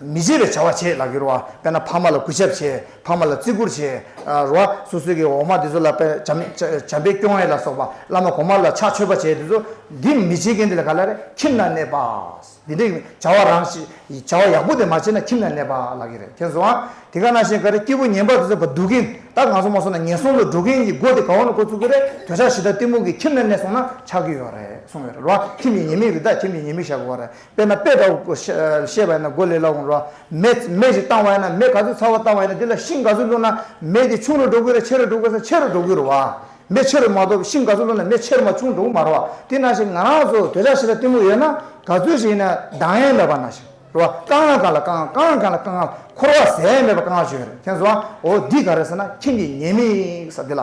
མི་བརྗེད་པའི་བྱ་བ་བྱེད་ལགས་གྱུར་བ་དཔེར་ན་ཕ་མ་ལ་གུས་ཞབས་བྱེད་ཕ་མ་ལ་བརྩི་བཀུར་བྱེད་རུ་བ་སོ་སོའི་གི་འོག་མ་དེ་ཚོ་ལ་པེ་བྱམས་བྱམས་པའི་སྐྱོང་བས་ལ་སོགས་པ་བླ་མ་གོང་མ་ལ་ཕྱག་མཆོད་པ་བྱེད་དེ་ཚོ་འདི་མི་བྱེད་མཁན་དེ་ལ་ག་ལ་རེད་ཁྱིམ་ན་གནས་པ་འདི་འདྲའི་བྱ་བ་རང་བྱ་བ་ཡག་པོ་དེ་མ་བྱེད་ན་ཁྱིམ་ན་གནས་པ་ལགས་ཀྱི་རེད་ཁྱེད་ཚོའང་དེ་ག་ན་བཞིན་ག་རེ་སྐྱེ་བོ་ངན་པ་དེ་ཚོ་བ་སྡུག་གིན་ད་ང་ཚོ་མ་སོང་ན་ངན་སོང་དུ་འགྲོ་མཁན་གྱི་སྒོ་དེ་ག་འོག་ན་འཁོར་ཚུགས་ཀྱི་རེད་དོལ་ཆགས་ཞི་དར་གཏི་མུག་གི་ཁྱིམ་ན་གནས་སོང་ན་ཆགས་ཀྱི་ཡོད་རེད་གསུངས་ཡོད་རེད་རུ་བ་ཁྱིམ་གྱི་ཉེས་དམིགས་རི་དྭགས་ཁྱིམ་གྱི་ཉེས་དམིགས་བཤད་དགོས་པ་རེད་དཔེར་ན་དཔེ་འདྲ་བོ་བཤད་པ་ཡིན་ན་གོ་ལེ་ལ་འོང་རོགས་ཨ། མེ་མེ་ཞིག་བཏང་བ་ཡིན་ན་མེ་ག་ཚོད་ཚ་བ་བཏང་བ་ཡིན་ན་དེ་ལ་ཤིང་ག་ཚོད་བླུགས་ན་མེ་དེ་ཆུང་རུ་འགྲོ་དགོས་རེད་ཆེ་རུ་འགྲོ་དགོས་ས་ཆེ་རུ་འགྲོ་དགོས་རོགས་ཨ། མེ་ཆེ་རུ་མ་གཏོགས་པའི་ཤིང་ག་ཚོད་བླུགས་ན་མེ་ཆེ་རུ་མ་ཆུང་འགྲོ་གི་མ་རོགས་ཨ། དེ་ན་ཞིག་ང་རང་ཚོ་དོལ་ཆ་ཞིག་ལ་གཏི་མུག་ཡོད་ན་ག་ཚོད་ཞིག་ཡིན་ན་སྡང་ཡན་མེད་པ་ན་ཞིག་རོགས་ཨ། དཀའ་ངལ་ག་ལ་དཀའ་དཀའ་ངལ་ག་ལ་དཀའ་ངལ་འཁོར་བ་ཟད་མེད་པ་དཀའ་ངལ་བྱུང་ཡོད་རེད་དེ་ཚོ་ཨ། འོ་འདི་ག་རེད་ཟེར་ན་ཁྱིམ་གྱི་ཉེས་དམིགས་ས་དེ་ལ་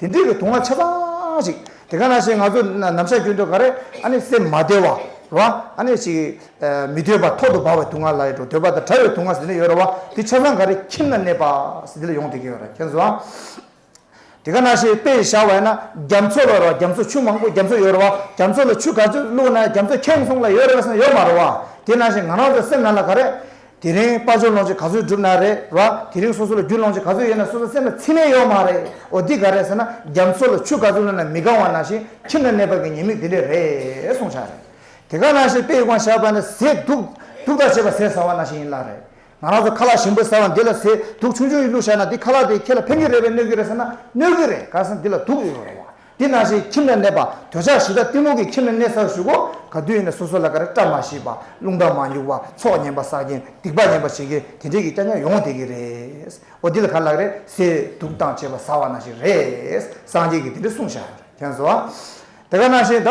དེ་འདྲའི་གི་དུག་ལྔ་ཆ་ཚང་ཞིག་དེ་ག་ནང་བཞིན་ང་ཚོ་ནམ་ཞག་རྒྱུན་དུ་ག་རེ་ཨ་ནི་སེམས་མ་བདེ་བ་རེད་བ་ཨ་ནི་ཞིག་མི་འདོད་པ་ཐོག་ཏུ་འབར་བའི་དུག་ལྔ་ལ་ཡོད་འགྲོ་འདོད་པ་དང་བྲལ་བའི་དུག་ལྔ་ཟེར་ནི་ཡོད་རེད་བ་དེ་ཆ་ཚང་ག་རེ་ཁྱིམ་ན་གནས་པ་ཟེར་དེ་ལ་ཡོང་བསྡད་ཀྱི་ཡོད་རེད་མཁྱེན་སོང་དེ་ག་ནང་བཞིན་དཔེ་ཞིག་བཞག་བས་ན་རྒྱ་མཚོ་ལ་རེད་བ་རྒྱ་མཚོ་ཆུ་མང་པོ་རྒྱ་མཚོ་ཡོད་རེད་བ་རྒྱ་མཚོ་ལ་ཆུ་ག་ཚོད་བླུགས་ན་རྒྱ་མཚོ་ཁེངས་སོང་ལ་ཡོད་རེད་བ་ཟེར་ནི་ཡོད་མ་རེད་བ་དེ་ནང་བཞིན་ང་རང་ཚོ་སེམས་ནང་ལ་ག་རེ་དེ་རིང་དཔའ་འབྱོར་ལོངས་སྤྱོད་ག་ཚོད་བསྒྲུབས་ན་རེད་བ། དེ་རིང་སོ་སོ་ལ་རྒྱུ་ལོངས་སྤྱོད་ག་ཚོད་ཡོད་ན་སོ་སོ་སེམས་ལ་ཚིམ་མེད་ཡོད་མ་རེད། འོ་འདི་ག་རེད་ཟེར་ན་རྒྱ་མཚོ་ལ་ཆུ་ག་ཚོད་བླུད་ན་མི་དགའ་བ་ནང་བཞིན་ཁྱིམ་ལ་གནས་པ་གི་ཉེས་དམིགས་དེ་འདྲས་རེད་གསུངས་ཆགས་རེད། དེ་ག་ནང་བཞིན་དཔེ་ཡིས་ཀོང་བཞག་པ་ནི་ཟས་དུག་དུག་དག་བྱེད་པ་ཟས་ཟ་བ་ནང་བཞིན་ཡིན་ལགས་རེད། ང་རང་ཚོ་ཁ་ལག་ཞིམ་པོ་ཟ་བ་འདི་ལ་ཟས་དུག་ཆུང་ཆུང་ཡིས་བླུད་བཞག་ན་འདི་ཁ་ལག་དེས་ཁྱེད་ལ་ཕན་གི་རེད་བས་གནོད་གི་རེད་ཟེར་ན་གནོད་གི་རེད་ག་ཟེར་ན་འདི་ལ་དུག་ཡོད་རེད་བ། དེ་སྣང་ཞིག་ཁྱིམ་ལ་གནས་པ་འདོད་ཆགས་ཞི་དྲག་གཏི་མུག་གི་ཁྱིམ་ལ་གནས་སར་ཞུག་གོ། ག་དུས་ཡིན་ན་སོ་སོ་ལ་ཀ་ར་སྐྲ་མ་ཤིས་པ་རླུང་རྟ་མ་མྱུག་པ་ཚོགས་ངན་པ་བསགས་རྐྱེན་སྡིག་པ་ངན་པ་བྱེད་ཀྱི་དེ་འདྲས་ཀྱི་སྐྱ་ཉར་ཡོང་དེ་གི་རེད། འོ་འདི་ལ་ག་ལགས་རེད་ཟེར་འདུག་སྟངས་བྱེད་པ་ཟ་བ་ན་ཞིག་རེད། སངས་རྒྱས་ཀྱིས་དེ་འདྲས་གསུངས་ཤག། དེ་ག་ནང་བཞིན་ད།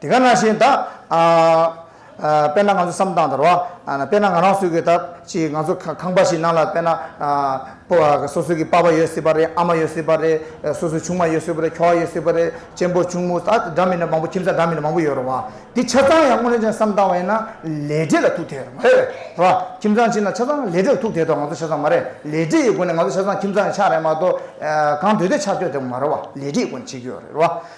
དེ་ག་ན་བཞིན་ད། དཔེར་ན་ང་ཚོ་བསམ་སྟངས་ལྟར་བ། དཔེར་ན་ང་རང་སུ་གི་ད་ཅིག་ང་ཚོ་ཁང་པ་ཞིག་ནང་ལ་དཔེར་ན། སོ་སོ་གི་པ་པ་ཡོད་སྲིད་པ་རེད་ཨ་མ་ཡོད་སྲིད་པ་རེད་སོ་སོའི་ཆུང་མ་ཡོད་སྲིད་པ་རེད་ཁྱོ་བ་ཡོད་སྲིད་པ་རེད་གཅེན་པོ་གཅུང་མོ་ད་འདྲ་མི་འདྲ་མང་པོ་ཁྱིམ་བཟའ་འདྲ་མི་འདྲ་མང་པོ་ཡོད་རེད་བ། དེ་ཆ་ཚང་ཡང་སྔོན་ནས་ཀྱང་བསམ་སྟངས་བ་ཡིན་ན་ལས་འབྲས་ལ་ཐུག་ཐལ་རེད་མ་རེད། རེད་བ། ཁྱིམ་ཚང་གཅིག་ན་ཆ་ཚང་ལས་འབྲས་ལ་ཐུག་ཐལ་དོ་ང་ཚོ་ཆ་ཚང་མ་རེད་ལས་འབྲས་ཡི་སྒོ་ནས་ང་ཚོ་ཆ་ཚང་ཁྱིམ་ཚང་ཡི་ཆ་རེད་མ་གཏོགས་གང་འདོད་འདོད་ཆ་སྤྱོད་དེ་མ་རེད་བ་ལས་འབྲས་ཡི་སྒོ་ནས་བྱེད་ཀྱི་ཡོད་རེད་བ།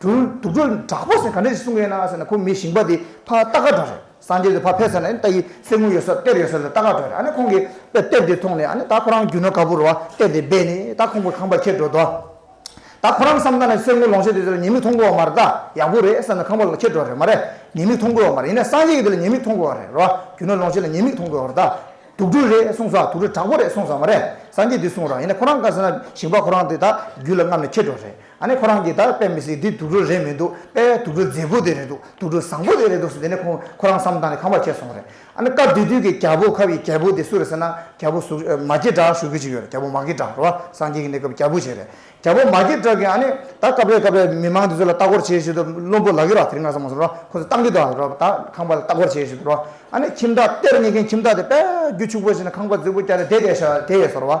དུ་དུག་སྦྲུལ་དྲག་པོ་ཟེར་ག་འདྲ་ཞིག་གསུང་གི་ཡོད་ན་ཟེར་ན་ཁོང་མི་ཞིང་པ་དེ་ཕ་རྟ་སྒ་སྒྲོ་རེད་སངས་རྒྱས་དེ་ཕ་ཕེ་ཟེར་ན་ཨ་ནི་རྟ་ཡི་གསེར་དངུལ་ཡོད་སར་གཏེར་ཡོད་སར་ལ་རྟ་སྒ་སྒྲོ་རེད་ཨ་ནི་ཁོང་གི་པེ་གཏེར་དེ་མཐོང་ནས་ཨ་ནི་ད་ཁོ་རང་རྒྱུ་ནོར་ག་པུར་རོ་བ་གཏེར་དེ་སྦས་ནས་ད་ཁོང་གི་ཁང་པ་ཁྱེར་འགྲོ་དོ། ད་ཁོ་རང་བསམ་ད་ན་གསེར་དངུལ་ལོངས་སྤྱོད་དེ་ཟེར་བ་ཉེས་དམིགས་མཐོང་དགོས་བ་མ་རེད་ད་ཡག་པོ་རེད་བསམ་ནས་ཁང་པ་ལ་ཁྱེར་འགྲོ་རེད་མ་རེད་ཉེས་དམིགས་མཐོང་དགོས་བ་མ་རེད་ཡིན་ན་སངས་རྒྱས་ཀྱི་དེ་ལ་ཉེས་དམིགས་མཐོང་དགོས་བ་རེད་རོ་རྒྱུ་ནོར་ལོངས་སྤྱོད་ལ་ཉེས་དམིགས་མཐོང་དགོས་བ་རེད་ད་དུག་སྦྲུལ་རེད་གསུངས་སོ་དུག་སྦྲུལ་དྲག་པོ་རེད་གསུངས་སོ་མ་རེད་སངས་རྒྱས་དེ་གསུངས་རོགས་ཡིན་ན་ཁོ་རང་ག་ཟེར་ན་ཞིང་པ་ཁོ་རང་དེ་ད་རྒྱུ་ལ་རྔམ་ནས་ཁྱེར་འགྲོ་རེད། ཨ་ནི་ཁོ་རང་གིས་ད་དཔེ་མི་སྲིད་འདི་དུག་སྦྲུལ་རེད་མི་འདུག་དཔེ་བའི་དུག་སྦྲུལ་མཛེས་པོ་དེ་རེད་འདུག་དུག་སྦྲུལ་བཟང་པོ་དེ་རེད་འདུག་ཟེར་དེ་ནས་ཁོང་ཁོ་རང་བསམ་བཏང་ནས་ཁང་པར་ཁྱེར་སོང་བ་རེད། ཨ་ནི་སྐབས་དེ་དུས་ཀྱི་རྒྱལ་པོ་ཁབ་ཡི་རྒྱལ་པོ་དེ་སུ་རེད་ཟེར་ན་རྒྱལ་པོ་ཟུར་མ་སྐྱེ་བྲག་ཞུ་གི་ཅིག་ཡོད་རེད་རྒྱལ་པོ་མ་སྐྱེ་བྲག་རོ་སངས་རྒྱས་ཀྱི་གནས་སྐབས་རྒྱལ་པོ་ཞིག་རེད་རྒྱལ་པོ་མ་སྐྱེ་བྲག་གིས་ཨ་ནི་ད་སྐབས་རེ་སྐབས་རེ་མི་མང་དེ་ཚོ་ལ་ལྟ་སྐོར་བྱེད་བྱེད་དུ་བློན་པོ་ལག་གི་ར་དེ་རིང་ང་ས་མ་ཟོ་རོགས་ཁོ་ཚོ་བཏང་གི་འདུག་ཨ་རོགས་ད་ཁང་པ་ལ་ལྟ་སྐོར་བྱེད་བྱེད་དུ་རོགས་ཨ་ནི་ཁྱིམ་བདག་གཏེར་རྙེད་མཁན་ཁྱིམ་བདག་དེ་དཔལ་རྒྱུ་ཕྱུག་པོ་ཞིག་ནས་ཁང་པ་རྫིག་པོ་བསྐྱལ་ཏེ་དེ་ལྟས་ཤག་དེ་ཡས་ཟོ་རོགས།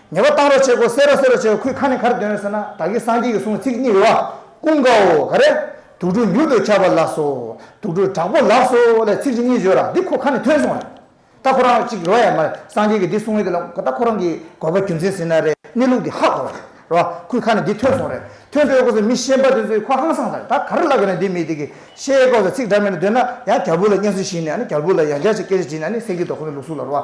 ངེས་པ་གཏང་རོགས་བྱེད་གོ་སེ་རོགས་སེ་རོགས་བྱེད་གོ་ཁོས་ཁ་ནས་གར་འདོན་ཟེར་ན་ད་གིན་སངས་རྒྱས་ཀྱི་གསུང་ཚིག་གཉིས་རེད་བ་ཀུན་དགའ་བོ་ག་རེ། དུག་སྦྲུལ་མྱུར་དུ་ཁྱབ་པ་ལགས་སོ། དུག་སྦྲུལ་དྲག་པོ་ལགས་སོ་ལས་ཚིག་གཅིག་གཉིས་བརྗོད་ར་འདི་ཁོ་ཁ་ནས་ཐོན་སོང་བ་རེད། ད་ཁོ་རང་གཅིག་རེད་བ་ཡ་མ་རེད་སངས་རྒྱས་ཀྱི་འདི་གསུང་ཡོད་དེ་ལ་ད་ཁོ་རང་གིས་དགོས་པ་རྒྱུ་མཚན་ཟིན་ན་རེད་གནས་ལུགས་འདི་ཧ་གོ་བ་རེད་བ་ཁོས་ཁ་ནས་འདི་ཐོན་སོང་རེད་ཐོན་སྤྲོད་གོ་ས་མི་ཤེས་འབའ་དེ་ཚོས་ཁོ་ཧང་སངས་ས་རེད་ད་ག་རེ་ལབ་དགོས་ན་འདི་མི་དེ་གིས་ཤེས་གོ་ས་ཚིག་འདྲ་མིན་འདོན་ན་ཡང་རྒྱ་བོད་ལ་སྙན་གསོལ་བཞིན་ནས་ཨ་ནི་རྒྱ་བོད་ལ་ཡང་བསྐྱར་ཅིག་སྐད་ཆ་བྱིན་ན་ནི་སེང་གེ་དོ་ཁོ་ནི་ལུགས་གཟུགས་ལ་རོ་བ།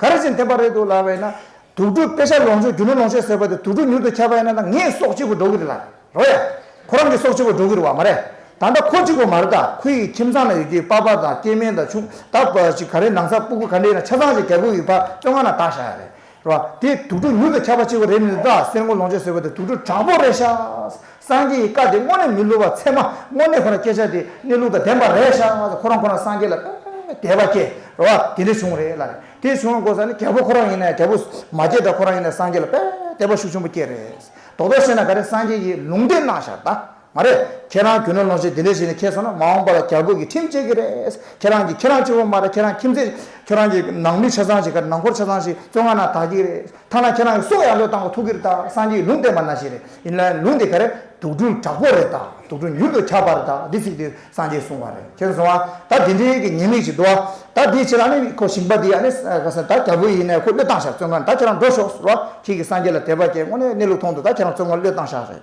ག་རེ་ཞིག་འཐེན་པར་རེད་འདུག་ལབ་བས་ན། དུག་སྦྲུལ་དཔེ་ཆ་ལོངས་སྤྱོད་རྒྱུ་ནོར་ལོངས་སྤྱོད་ཟེར་བ་དེ་དུག་སྦྲུལ་མྱུར་དུ་ཁྱབ་བས་ན་ད་ངས་སྲོག་གཅིག་པུ་འགྲོ་གི་རེད་ལ། རོ་ཡ། ཁོ་རང་གི་སྲོག་གཅིག་པུ་འགྲོ་གི་རེད་བ་མ་རེད། ད་ལྟ་ཁོ་གཅིག་པུ་མ་རེད་ད་ཁོ་ཡི་ཁྱིམ་ཚང་ན་ཡོད་རྒྱུའི་པགས་པ་དང་སྐྱེས་དམན་དང་ཆུང་ད་བ་ཞིག་ག་རེ་ནང་ས་སྤུ་གུ་ག་འདྲའི་ན་ཆ་ཚང་ཞིག་རྒྱ་གུག་ཡི་བ་བཙོན་ཁང་ན་དག་བཞག་ཡ་རེད། རོ། དེ་དུག་སྦྲུལ་མྱུར་དུ་ཁྱབ་པ་གཅིག་པུ་རེད་ནི་ད་སེར་མགོ་ལོངས་སྤྱོད་ཟེར་བ་དེ་དུག་སྦྲུལ་དྲག་པོ་རེད་ཤག། སངས་རྒྱས་ཀྱི་བཀའ་དེ་དངོས་གནས་མི་སླུ་བར་ཚད་མ་དངོས་གནས་ཁོ་ན་སྐད་ཆ་དེ་གནས་ལུགས་དང་ལྡན་པ་རེད་ཤག་ང་ཚོ་ཁོ་རང་ཁོ་རང་སངས་རྒྱས་ལ་དཔེ་མེད་མེད་དད་པ་སྐྱེ་རོ་ཨ་དེ་འདྲས་བྱུང་རེད་ལ་རེད་དེ་བྱུང་བ་དགོས་ས་ནི་རྒྱལ་པོ་ཁོ་རང་ཡིན་ནའི་རྒྱལ་པོ་མ་སྐྱེས་དང་ཁོ་རང་ཡིན་ནའི་སངས་རྒྱས་ལ་དཔེ་མེད་དད་པ་ཤུགས་ཆེན་པོ་སྐྱེ་རེད་རྡོག་རྡོག་བཤད་ན་ག་རེ་སངས་རྒྱས་ཀྱིས་ལུང་བསྟན་གནང་ཤག་ད་མ་རེད་ཁྱེད་རང་རྒྱུ་ནོར་ལོངས་སྤྱད་དེ་འདྲས་བྱས་ནས་ཁྱེད་སོང་ན་མ་འོངས་པ་ལ་རྒྱ་རྒོད་ཀྱི་ཁྲིམས་བཅད་ཀྱི་རེད་ཁྱེད་རང་གིས་ཁྱེད་རང་གཅིག་པོ་མ་རེད་ཁྱེད་རང་ཁྱིམ་མཚེས་ཁྱེད་རང་གི་ནང་མི་ཆ་ཚང་ཞིག་ག་རེ་ནང་འཁོར་ཆ་ཚང་ཞིག་བཙོན་ཁང་ནང་དག་གི་རེད། ཐ་ན་ཁྱེད་རང་གི་སྲོག་ཡང་བློས་བཏང་ལ་ཐུག་གི་རེད་ད་སངས་རྒྱས་ཀྱི་ལུང་བསྟན་པ་ན་བཞིན་རེད་ཡིན་ན་ལུང་དེ་ག་རེད་དུག་སྦྲུལ་དྲག་པོ་རེད་ད་དུག་སྦྲུལ་མྱུར་དུ་ཁྱབ་པ་རེད་ད་འདི་ཚིག་དེ་སངས་རྒྱས་གསུང་བ་རེད་ཁྱེད་སོང་ང་ད་དེ་འདྲའི་གི་ཉེས་དམིགས་ཅིག་འདུག་ཨ་ད་དེའི་ཕྱིར་ཨ་ནི་ཁོ་ཞིང་པ་དེ་ཨ་ནི་ག་ས་ད་རྒྱལ་པོ་ཡིན་ནའི་ཁོ་བློས་བཏང་བཞག་བཙོན་ཁང་ད་ཁྱེད་རང་འགྲོ་ཤོག་རོགས་ཁྱེད་ཀྱི་སངས་རྒྱས་ལ་དད་པ་སྐྱེ་དངོས་ནས་གནས་ལུགས་མཐོང་འདུག་ད་ཁྱེད་རང་བཙོན་ཁང་བློས་བཏང་བཞག་རེད།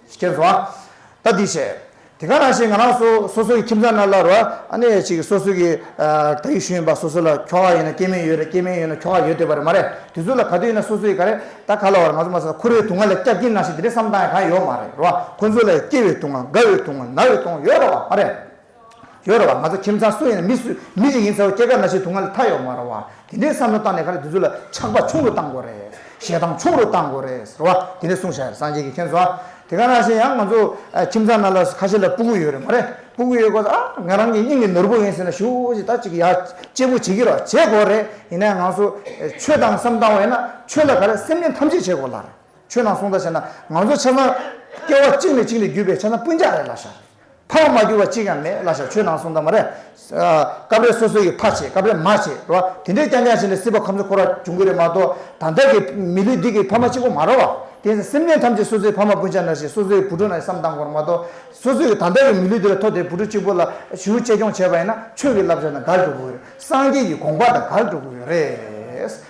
ཁྱེར་སོང་ཨ། ད་འདི་བྱས། དེ་ག་རང་བྱས་ང་རང་སོ་སོ་སོའི་ཁྱིམ་ཚང་ན་སླར་རོ། ཨ་ནི་ཅིག་སོ་སོའི་གི། ད་ཡུལ་ཤུལ་ཡིན་པ་སོ་སོ་ལ་ཁྱོ་ག་ཡོད་ན་སྐྱེས་དམན་ཡོད་རེད་སྐྱེས་དམན་ཡོད་ན་ཁྱོ་ག་ཡོད་འདོད་པ་རེད་མ་རེད་དུས་ཚོད་ལ་ག་དུས་ཡིན་ན་སོ་སོའི་ག་རེད་ད་ག་ལ་བར་ང་ཚོ་མ་ཟ་ཁུར་བའི་དུང་ང་ལ་སྐྱག་སྐྱིན་ནང་བཞིན་དེ་རེད་བསམ་སྟངས་ཡང་གང་ཡོད་མ་རེད་རོ། ཁོ་ཚོ་ལ་ཡང་སྐྱེ་བའི་དུང་ང་རྒ་བའི་དུང་ང་ན་བའི་དུང་ཡོད་རེད་བ་མ་རེད། ཡོད་རེད་བ་ང་ཚོ་ཁྱིམ་ཚང་སུ་ཡིན་ན་མི་སུ་མི་ཞིག་ཡིན་ཚ་བ་སྐྱེ་རྒ་ན་འཆི་དུག་ལྔ་ལས་ཐར་ཡོད་མ་རེད་བ་དེ་འདྲའི་བསམ་བློ་བཏང་ནས་ཁ་ལ་དེ་ཚོ་ལ་ཆགས་པ་ཆུང་རུ་བཏང་དགོས་རེད་ཞེ་སྡང་ཆུང་རུ་བཏང་དགོས་རེད་ཟེར་བ་དེ་འདྲའི་གསུང་བྱ་ཡ་རེད་སངས་རྒྱས་ཀྱི་མཁྱེན་བཟོ་དེ་ག་ན་བྱེད་ཡང་ང་ཚོ་ཁྱིམ་ཚང་ནང་ལ་ཁ་ཤས་ལ་སྤུ་གུ་ཡོད་རེད་མ་རེད་སྤུ་གུ་ཡོད་དགོས་ཚ་ཨ་ང་རང་གི་སྙིང་གི་ནོར་བུ་ཡིན་ཟེར་ན་ཞུ་ཞིག་ད་ཅིག་ཡ་གཅེས་པོ་བྱེད་ཀྱི་རོགས་བྱེད་དགོས་རེད་ཡིན་ན་ཡང་ང་ཚོ་ཆོས་དང་བསམ་བཏང་བ་ཡིན་ན་ཆོས་ལ་ག་རེ་སེམས་ཅན་ཐམས་ཅད་བྱེད་དགོས་ལ་རེད་ཆོས་དང་གསུང་ད་བྱས་ན་ང་ཚོ་ཆ་ཚང་སྐྱེ་བ་གཅིག་ནས་གཅིག་ནས་བརྒྱུད་པའི་ཆ་ཚང་སྤུན་ཅག་རེད་ལ་ཤ་རེད། ཕ་བ་མ་གྱུར་བ་གཅིག་ཡང་མེད་གླ་ཞག་ཆོས་ནང་གསུང་དང་མ་རེད། སྐབས་རེ་སོ་སོ་ཡིས་ཕ་བྱེད་སྐབས་རེ་མ་བྱེད་རེད་བ། དེ་འདྲས་རྐྱང་རྐྱང་བྱས་ནས་སྲིད་པ་ཁམས་གསུམ་འཁོར་བ་བྱུང་གི་རེད་མ་གཏོགས་ད་ལྟ་གི་མི་ལུས་འདི་གི་ཕ་མ་གཅིག་པོ་མ་རེད་བ། དེ་ནི་སེམས་ཅན་ཐམས་ཅད་སོ་སོའི་ཕ་མ་སྤུན་ཆང་འདྲ་ཞེས་སོ་སོའི་བུ་ཕྲུག་རྣམས་ཀྱི་བསམ་སྟངས་གོ་རེད་མ་གཏོགས་སོ་སོ་ཡིས་ད་ལྟ་གི་མི་ལུས་འདི་ལ་ཐོག་དེའི་བུ་ཕྲུག་གཅིག་པོ་ལ་ཞུ་གཅེས་སྐྱོང་བྱས་པ་ཡིན་ན་ཆོས་ཀྱི་བསླབ་བྱ་དང་འགལ་འགྲོ་གི་རེད་སངས་རྒྱས་ཀྱི་དགོངས་པ་དང་འགལ་འགྲོ་གི་རེད།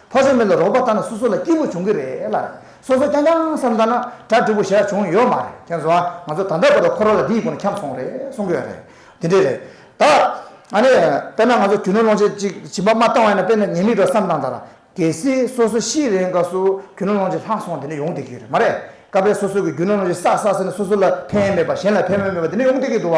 ཕོ་སྲོད་མེ་ལ་རོགས་པ་ལྟ་ན་སོ་སོ་ལ་སྐྱིད་པོ་འབྱུང་གི་རེད་ལ། སོ་སོ་རྐྱང་རྐྱང་བསམ་ལྟ་ན་གྲ་སྒྲིག་པོ་བྱས་བྱུང་ཡོད་མ་རེད་ཁྱེད་ཚོ་ཨ་ང་ཚོ་ད་ལྟ་བར་དུ་ཁོ་རང་ལ་འདི་ཡི་སྒོ་ནས་འཁྱམས་སོང་རེད་གསུང་གི་ཡོད་རེད་འདི་འདྲས་རེད་ད། ཨ་ནི་དཔེར་ན་ང་ཚོ་རྒྱུ་ནོར་སློང་བྱེད་ཅིག་བྱིན་པ་མ་བཏང་བས་ན་དཔེར་ན་ཉེས་དམིགས་འགྲོ་བསམ་བཏང་ད་ར། གལ་སྲིད་སོ་སོ་ཤི་རེའི་སྐབས་སུ་རྒྱུ་ནོར་སློང་བྱེད་ལྷག་སོང་དེ་འདྲས་ཡོང་སྡད་ཀྱི་ཡོད་རེད་མ་རེད། སྐབས་རེ་སོ་སོ་གི་རྒྱུ་ནོར་སློང་བྱེད་བསགས་བསགས་ཟེར་ན་སོ་སོ་ལ་ཕན་ཡོན་མེད་པ་གཞན་ལ་ཕན་ཡོན་མེད་པ་དེ་འདྲས་ཡོང་སྡད་ཀྱི་འདུག་བ།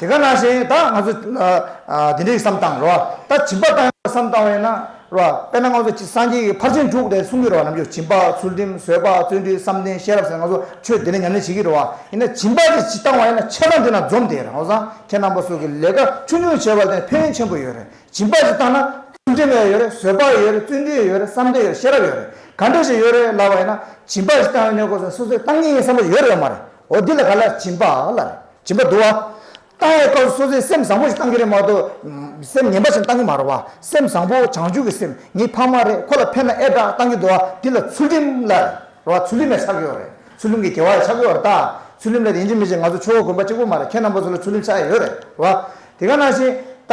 དེ་ག་ན་བཞིན་ད་ང་ཚོ་དེ་འདྲའི་བསམ་བཏང་རེད་བ་ད་བྱིན་པ་བཏང་ཡོད་པ་བསམ་བཏང་བས་ན་རེད་བ་དཔེར་ན་ང་ཚོ་སངས་རྒྱས་ཀྱི་ཕར་ཕྱིན་དྲུག་དེ་གསུང་གི་རེད་བ་ནམ་རྒྱུན་བྱིན་པ་ཚུལ་ཁྲིམས་བཟོད་པ་བརྩོན་འགྲུས་བསམ་གཏན་ཤེས་རབ་ཟེར་ན་ང་ཚོ་ཆོས་དེ་ལས་ཉམས་ལེན་བྱེད་ཀྱི་རེད་བ་ཡིན་ན་བྱིན་པ་དེ་ཇི་བཏང་བ་ཡིན་ན་ཆད་ན་འདི་ན་འཛོམས་དེ་རང་བཟང་ཁྱེད་རྣམ་པ་སོགས་ཀྱི་ལས་ཀ་ཆུང་ཆུང་བྱས་པ་དེ་ཕན་ཡོན་ཆེན་པོ་ཡོད་རེད་བྱིན་པ་ཞིག་བཏང་ན་ཚུལ་ཁྲིམས་ཡོད་རེད་བཟོད་པ་ཡོད་རེད་བརྩོན་འགྲུས་ཡོད་རེད་བསམ་གཏན་ཡོད་རེད་ཤེས་རབ་ཡོད་རེད་ག་འདྲ་ཞིག་ཡོད་རེད་ལབ་བ་ཡིན་ན་བྱིན་པ་ཞིག་བཏང་བས་ནས་ཀོ་ཟེར་སོ་སོས་བཏང་ངེས་ཡིན་བསམ་པ་ཡོད་རེད་བ་མ་རེད། འོ་འདི་ལ་ག་ལ་སྦྱིན་པ་ལ་རེད་སྦྱིན་པ་འདུག་ཨ། ཏྭ་ཡའི་སྐབས་སུ་སོ་སོའི་སེམས་བཟང་པོ་ཞིག་གཏང་གི་རེད་མ་གཏོགས་སེམས་ངན་པ་ཞིག་གཏང་གི་མ་རེད་བ། སེམས་བཟང་པོ་བྱང་ཆུབ་ཀྱི་སེམས་ངའི་ཕ་མ་རེད་ཁོ་ལ་ཕན་ན་ཨེ་དྲག་གཏང་གི་འདུག་ཨ་འདི་ལ་ཚུལ་ཁྲིམས་ལ་རེད་བ་ཚུལ་ཁྲིམས་ཡང་ཆགས་ཀྱི་ཡོད་རེད་ཚུལ་ཁྲིམས་ཀྱི་དགེ་བ་ཡང་ཆགས་ཀྱི་ཡོད་རེད་ད། ཚུལ་ཁྲིམས་ལ་དེ་འཇིག་མི་འཇིག་ང་ཚོ་ཆོས་དགོན་པ་གཅིག་པོ་མ་རེད་ཁྱེད་རྣམ་པ་ཚོ་ལ་ཚུལ་ཁྲིམས་ཆགས་ཡོད་རེད་བ། དེ་ག་ནང་བཞིན་ད།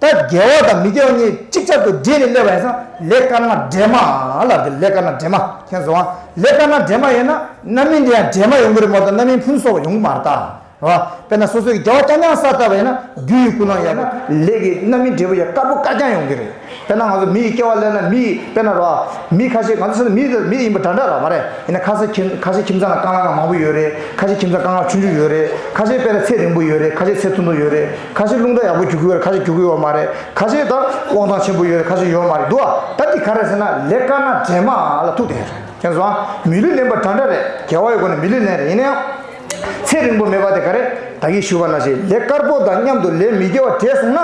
ད་རྒྱལ་བ་དང་མི་རྒྱལ་བ་གཉིས་གཅིག་ཆར་དུ་སྦྲེལ་ནས་སླེབས་པ་ཡིན་ས་ལེ་དཀར་ནག་འདྲེས་མ་ལ་དགེ་ལེ་དཀར་ནག་འདྲེས་མ་མཁྱེན་བཟུང་བ་ལེ་དཀར་ནག་འདྲེས་མ་ཡིན་ན་རྣམ་སྨིན་དེ་ཡང་འདྲེས་མ་ཡོང་གི་རེད་མ་གཏོགས་རྣམ་སྨིན་ཕུན་སོགས་ཡོང་གི་མ་རེད་ད་རེད་བ་དཔེར་ན་སོ་སོའི་རྒྱལ་བ་སྐྱང་སྐྱང་ས་ལྟ་བ་ཡིན་ན་རྒྱུ་ཡི་ཀུན་སྣང་ཡོད་ན་ལེ་གི་རྣམ་སྨིན་འབྲས་བུ་ཡང་དཀར་པོ་དཀར་རྐྱང་ཡོང་གི་རེད་དཔེར་ན་ང་ཚོ་མི་ཡི་སྐྱེ་བ་སླེབས་ན་མི་ཡི་དཔེར་ན་རེད་བ་མི་ཁ་ཤས་ང་ཚོ་ས་ནས་མི་དེ་མི་ཡིན་པ་འདྲ་འདྲ་རེད་བ་རེད་ཡིན་ན་ཁ་ས་ཁྱིམ་ཁ་ཤས་ཁྱིམ་ཚང་ལ་རྐང་ལག་མང་པོ་ཡོད་རེད་ཁ་ཤས་ཁྱིམ་ཚང་རྐང་ལག་ཆུང་ཆུང་ཡོད་རེད་ཁ་ཤས་དཔེར་ན་ཚད་རིང་པོ་ཡོད་རེད་ཁ་ཤས་ཚད་ཐུང་ཐུང་ཡོད་རེད། ཁ་ཤས་རླུང་རྟ་ཡག་པོ་རྒྱུག་གི་ཡོད་རེད་ཁ་ཤས་རྒྱུག་གི་ཡོད་མ་རེད་ཁ་ཤས་ད་དབང་ཐང་ཆེན་པོ་ཡོད་རེད་ཁ་ཤས་ཡོད་མ་རེད་འདུག་ཨ་ད་འདི་ག་རེད་ཟེར་ན་ལས་དཀར་ནག་འདྲེས་མ་ལ་ཐུག་བསྡད་ཡོད་རེད་དེ་ཚོ་ཨང་མི་ལུས་ལེན་པ་འདྲ་འདྲ་རེད་རྒྱལ་བ་ཡི་སྒོ་ནས་མི་ལུས་ལེན་རེད་ཡིན་ན་ཡང་ཚེ་རིང་པོ་མེད་པ་དེ་ག་རེད་ད་ཡིད་ཞུ་བ་ན་ཞིག་ལས་དཀར་པོ་དང་མཉམ་དུ་ལས་མི་དགེ་བ་འདྲེས་སོང་ན་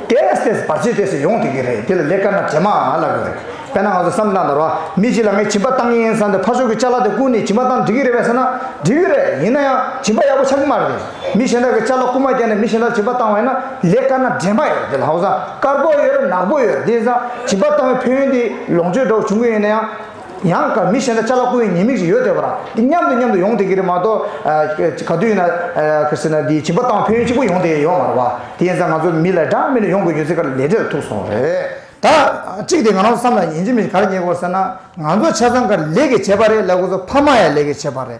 བལྟས་བལྟས་བར་ཆད་དེ་ཚོ་ཡོང་སྡོད་ཀྱི་རེད་དེ་ལ་ལས་དཀར་ནག་འདྲེས་མ་ལབ་ཡོད་རེད་དཔེར་ན་ང་ཚོ་བསམ་གནང་དང་རོགས་མི་གཅིག་ལ་ངས་བྱིན་པ་བཏང་གི་ཡིན་བསམ་སྟེ་ཕ་ཤོག་གི་ལྕགས་ལ་དེ་བསྐུར་ནས་བྱིན་པ་བཏང་འགྲིག་གི་རེད་བས་ཟེར་ན་འགྲིག་གི་རེད་ཡིན་ན་ཡང་བྱིན་པ་ཡག་པོ་ཆགས་ཀྱི་མ་རེད། མི་གཞན་དག་གི་ཆ་ལ་རྐུ་མ་རྒྱག་ནས་མི་གཞན་དག་བྱིས་པ་བཏང་བས་ན་ལས་དཀར་ནག་འདྲེས་མ་ཡོད་དེ་ལྷག་བཟང་དཀར་པོ་ཡོད་རེད་ནག་པོ་ཡོད་རེད་དེ་བཟང་བྱིས་པ་བཏང་བའི་ཕན་ཡོན་དེ་ལོངས་སྤྱོད་འདྲ་བོ་བྱུང་གི་ཡོད་ན་ཡང། ཡང་དཀར་མི་གཞན་དག་ཆ་ལ་རྐུ་བའི་ཉེས་དམིགས་ཤིག་ཡོད་དེ་བ་རང་འདི་མཉམ་དུ་མཉམ་དུ་ཡོང་དེ་གི་རེད་མ་གཏོགས་ག་དུས་ཡིན་ན་ཁ་སེ་ན་འདི་བྱིས་པ་བཏང་བ་ཕན་ཡོན་གཅིག་པོ་ཡོང་དེ་ཡོད་མ་རེད་བ་དེ་ཡིན་ཙང་ང་ཚོ་མི་ལ་དྲང་མེད་ལ་ཡོང་དགོས་ཡོད་ཚེ་ག་ལ་ལས་འབྲས་ལ་ཐུག་སོང་རེད། ད་གཅིག་དེ་ང་རང་བསམ་ལ་ཉིན་གཅིག་མི་ག་རེ་ཉེས་དགོས་ཟེར་ན་ང་ཚོ་ཆ་ཚང་ག་ལས་ཀྱི་བྱས་པ་རེད་ལས་ཁོ་ཚོ་ཕ་མ་ཡང་ལས་ཀྱི་བྱས་པ་རེད།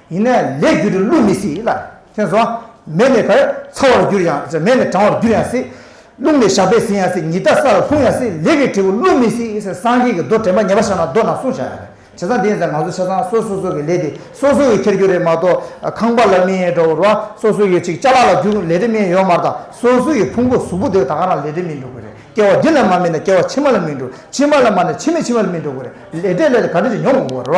ཡིན་ན་ལས་རྒྱུ་དུ་བླུགས་མི་སྲིད་ལ། དེ་ནས་བཟུང་མེ་ལས་བར་ཚ་བར་འགྱུར་ཡང་སྲིད་མེ་ལས་གྲང་བར་འགྱུར་ཡང་སྲིད། རླུང་ལས་ཞགས་པས་ཟིན་ཡང་སྲིད་ཉི་ཟླ་ས་ལ་ལྷུང་ཡང་སྲིད་ལས་ཀྱི་འབྲས་བུ་བླུགས་མི་སྲིད་ཟེར་སངས་རྒྱས་ཀྱི་མདོ་དྲན་པ་ཉེ་བར་བཞག་ན་མདོ་རྣམས་བསྲུང་བྱ་ཡང་རེད་བྱས་ཙང་དེ་ཡིན་ཟེར་ང་ཚོ་བྱས་ཙང་སོ་སོ་སོ་གི་ལས་དེ་སོ་སོ་གིས་འཁྱེར་རྒྱུ་རེད་མ་གཏོགས་ཁང་པ་ལ་མི་འགྲོ་བར་སོ་སོ་ཡོད་ཅིག་ཅག་ལ་ལ་རྒྱུག་ལས་དོན་མིན་ཡོད་མ་རྟག་སོ་སོ་ཡི་ཕུང་པོ་གཟུགས་པོ་དེ་ད་ག་རང་ལས་དོན་མིན་འགྲོ་གི་རེད་སྐྱེ་བ་འདི་ལ་མ་མིན་ན་སྐྱེ་བ་ཕྱི་མ་ལ་མིན་འགྲོ་ཕྱི་མ་ལ་མ་ན་ཕྱི་མའི་ཕྱི་མ་ལ་མིན་འགྲོ་གི་རེད་ལས་འབྲས་ལས་དེ་ག་འདྲ་ཅིག་མྱོང་དགོས་པར་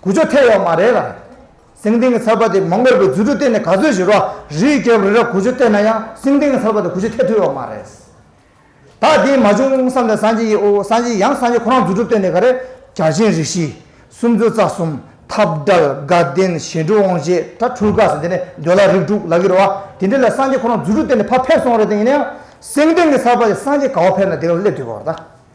གུ་ཆོ་ཐལ་ཡོག་མ་རེད་ལ། སེང་ལྡེང་གི་ཚར་པ་དེ་མོང་གོལ་པོའི་རྫུ་འཕྲུལ་བསྟན་ནས་ག་ཚོད་ཞིག་རོ། རིའི་རྒྱབ་རི་ར་གུ་ཆོ་བསྟན་ན་ཡང་སེང་ལྡེང་གི་ཚར་པ་དེ་གུ་ཆོ་ཐལ་ཐུབ་ཡོག་མ་རེད། ད་དེ་མ་བྱུང་བསམ་ནས་སངས་རྒྱས་ཡིན་ཨོ་སངས་རྒྱས་ཡང་སངས་རྒྱས་ཁོ་རང་རྫུ་འཕྲུལ་བསྟན་ནས་ག་རེ། བྱ་བྱིན་རིགས་བཞི། སུམ་ཅུ་རྩ་གསུམ། ཐབས་དགྲལ་དགའ་ལྡན་ཞི་འགྲོ་དབང་བྱེད་དགྲ་འཕྲུལ་དགའ་ཟེར་འདི་ནས་འདོད་ལ་རིགས་དྲུག་ལག་གི་རོ་བ་དེ་འདྲི་ལ་སངས་རྒྱས་ཁོ་རང་རྫུ་འཕྲུལ་བསྟན་ནས་ཕ་ཕེབས་སོང་རེད་ད་ཡིན་ན་ཡང་སེང་ལྡེང་གི་ཚར་པ་དེ་སངས་རྒྱས་ག་བ་ཕེབས་ན་དེ་ག་ལ་སླེབས་ཐུབ་པ་བ་ད།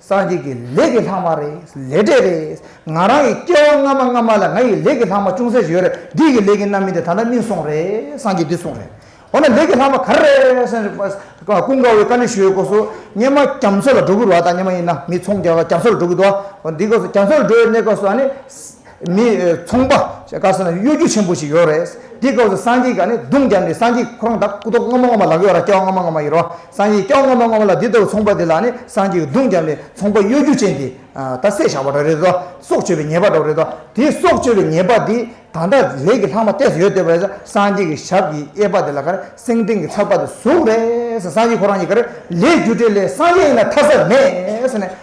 སངས་རྒྱས་ཀྱི་ལས་ཀྱི་ལྷག་མ་རེད། ལས་འབྲས་རེད། ང་རང་གི་སྐྱེ་བ་སྔ་མ་སྔ་མ་ལ་ང་ཡི་ལས་ཀྱི་ལྷག་མ་ཅུང་ཟད་ཞིག་ཡོད་རེད། འདི་ཡི་ལས་ཀྱི་རྣམ་སྨིན་དེ་ད་ལྟ་སྨིན་སོང་རེད། སངས་རྒྱས་འདི་སོང་རེད། འོ་ན་ལས་ཀྱི་ལྷག་མ་ག་རེ་རེད། ཀུན་དགའ་བོའི་བཀའ་འདྲི་ཞུ་བའི་སྐོར་སུ། སྙེ་མ་རྒྱ་མཚོ་ལ་འགྲོ་གི་རུ་བ་དང་སྙེ་མ་ཡིན་ན་མི་ཚོང་རྒྱ་མཚོ་ལ་འགྲོ་གི་འདུག་བ། འོ་འདི་སྐོར་སུ་རྒྱ་མཚོ་ལ་འགྲོ་བའི་གནས་སྐོར་སུ་ཨ་ནི། མི་ཚོང་པ་ཞེས་བཀའ་སྩལ་ན་གཡོ་སྒྱུ་ཆེན་པོ་ཞིག་ཡོད་རེད། འདི་སྐབས་སུ་སངས་རྒྱས་ཀྱི་ནི་གདུང་རྒྱབ་ནས་སངས་རྒྱས་ཁོ་རང་དང་སྐུ་མདོག་སྔ་མ་སྔ་མ་ལག་གཡོག་ར་སྐྱ་བ་སྔ་མ་སྔ་མ་ཡིན་རུང་སངས་རྒྱས་སྐྱ་བ་སྔ་མ་སྔ་མ་ལ་འདི་ལྟ་བུ་ཚོང་པ་དེ་ལ་ནི་སངས་རྒྱས་ཀྱི་གདུང་རྒྱབ་ནས་ཚོང་པ་གཡོ་སྒྱུ་ཅན་དེ་ད་བསད་བཞག་པ་འདྲ་རེད་དོ། སྲོག་གཅོད་པའི་ཉེས་པ་འདྲ་བོ་རེད་དོ། དེའི་སྲོག་གཅོད་པའི་ཉེས་པ་དེ་ད་ལྟ་ལས་ཀྱི་ལྷག་མ་གཏད་སོ་ཡོད་བལྟས་པ་རེད། སངས་རྒྱས་ཀྱི་ཞབས་ཀྱི་གཡས་པ་དེ་ལ་ཁ་རེ་སེང་ལྡེང་གི་ཚགས་པ་དེ་ཟུག་རེད། སངས་རྒྱས་ཁོ་རང་གཉིས་ཀ་རེ་ལས་སྒྱུ་འདྲེ་ལས་སངས་རྒྱས་ཡིན་ན་ཐ་ས་མེད།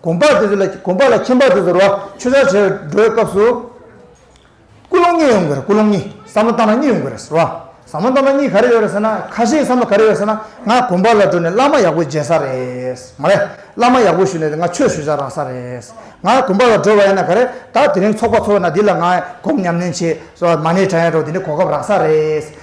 གོམ་པ་དེ་ཚོ་ལ་གོམ་པ་ལ་ཁྱིམ་པ་དེ་ཚོར་བ་ཆུ་ཆར་བྱེད་འགྲོའི་སྐབས་སུ། ཀུན་སློང་གཉིས་ཡོང་གི་རེད་ཀུན་སློང་གཉིས་ཟབ་མོ་སྟངས་མ་གཉིས་ཡོང་གི་རེད་ཟེར་བ། ཟབ་མོ་སྟངས་མ་གཉིས་ག་རེ་ཡོད་རེད་ཟེར་ན་ཁ་ཤས་བསམ་བློ་ག་རེ་ཡོད་ཟེར་ན་ང་གོམ་པ་ལ་འགྲོ་ནས་བླ་མ་ཡག་པོ་མཇལ་ས་རེད། མ་རེད་བླ་མ་ཡག་པོ་ཞུས་ནས་དེ་ང་ཆོས་ཞུ་བྱ་རག་ས་རེད། ང་གོམ་པ་ལ་འགྲོ་བ་ཡིན་ན་ག་རེ་ད་དེ་རིང་ཚོགས་པ་ཚོགས་ན་འདི་ལ་ང་གོམ་ཉམས་ལེན་བྱེད་སོ་མ་ནས་དྲན་ཡོད་རོགས་དེ་ནས་གོ་སྐབས་རག་ས་རེད།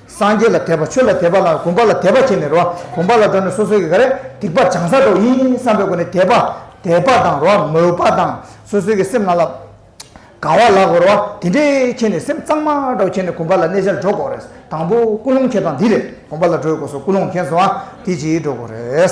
སངས་རྒྱས་ལ་དད་པ་ཆོས་ལ་དད་པ་ལ་གོམས་པ་ལ་དད་པ་ཁྱེད་ནི་རོ་གོམས་པ་ལ་སྒྲོ་ནི་སོ་སོ་ཡི་ག་རེ་སྡིག་པ་བྱང་ས་དོག་ཡིན་བསམ་པའི་སྒོ་ནས་དད་པ་དད་པ་དང་རོ་མོས་པ་དང་སོ་སོའི་གི་སེམས་ན་ལ་དགའ་བ་ལགས་པར་རོ་དེ་འདྲའི་ཁྱེད་ནི་སེམས་གཙང་མ་འདྲ་ཁྱེད་ནི་གོམས་པ་ལ་གནས་བྱར་འགྲོ་དགོ་རེད་དང་པོ་ཀུན་སློང་ཁྱེད་དང་འདི་རེད་གོམས་པ་ལ་འགྲོ་ཡི་དགོ་སོ་ཀུན་སློང་མཁན་སོ་ཨ་དེ་གྱིས་འགྲོ་དགོ་རེད།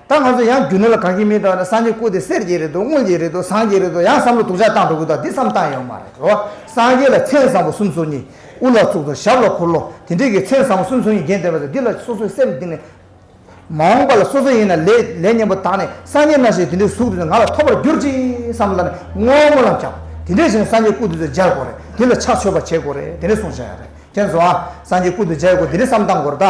ད་ང་ཚོ་ཡང་རྒྱུ་ནོར་ལ་དགའ་གི་མིན་དང་ནི་སངས་རྒྱས་སྐུ་དེ་གསེར་གྱི་རེད་འདུག་དངུལ་གྱི་རེད་འདུག་ཟངས་ཀྱི་རེད་འདུག་ཡང་བསམ་བློ་དུག་ཆ་བཏང་འགྲོ་གི་འདུག་འདི་བསམ་བཏང་ཡོད་མ་རེད་རོ། སངས་རྒྱས་ལ་མཚན་བཟང་པོ་སུམ་སོ་གཉིས། དབུ་ལ་ཚུགས་དང་ཞབས་ལ་འཁོར་ལོ་དེ་འདྲས་ཀྱི་མཚན་བཟང་པོ་སུམ་སོ་གཉིས་རྒྱན་ལྡན་པ་ཚོ་འདི་ལ་སོ་སོའི་སེམས་གཏིང་ནས། མ་འོངས་པ་ལ་སོ་སོ་ཡིན་ན་ལས་ལས་གཉེན་པོ་དག་ནས་སངས་རྒྱས་རྣམ་ཤེས་དེ་འདྲའི་གཟུགས་དེ་ཚོ་ང་ལ་ཐོབ་པར་གྱུར་ཅིག་བསམ་ལ་ནི་བསྔོ་སྨོན་ལམ་བརྒྱབ། དེ་འདྲས་ཤིག་ནས་སངས་རྒྱས་སྐུ་དེ་ཚོ་སྦྱར་དགོས་རེད་དེ་ལ་ཕྱག་མཆོད་པ་བྱེད་དགོས་རེད་དེ་འདྲས་གསུངས་བཞག་ཡ་རེད་མཁྱེན་སོང་ཨ། སངས་རྒྱས་སྐུ་དེ་སྦྱར་དགོས་དེ་འདྲས་བསམ་བཏང་དགོས་རེད་ད།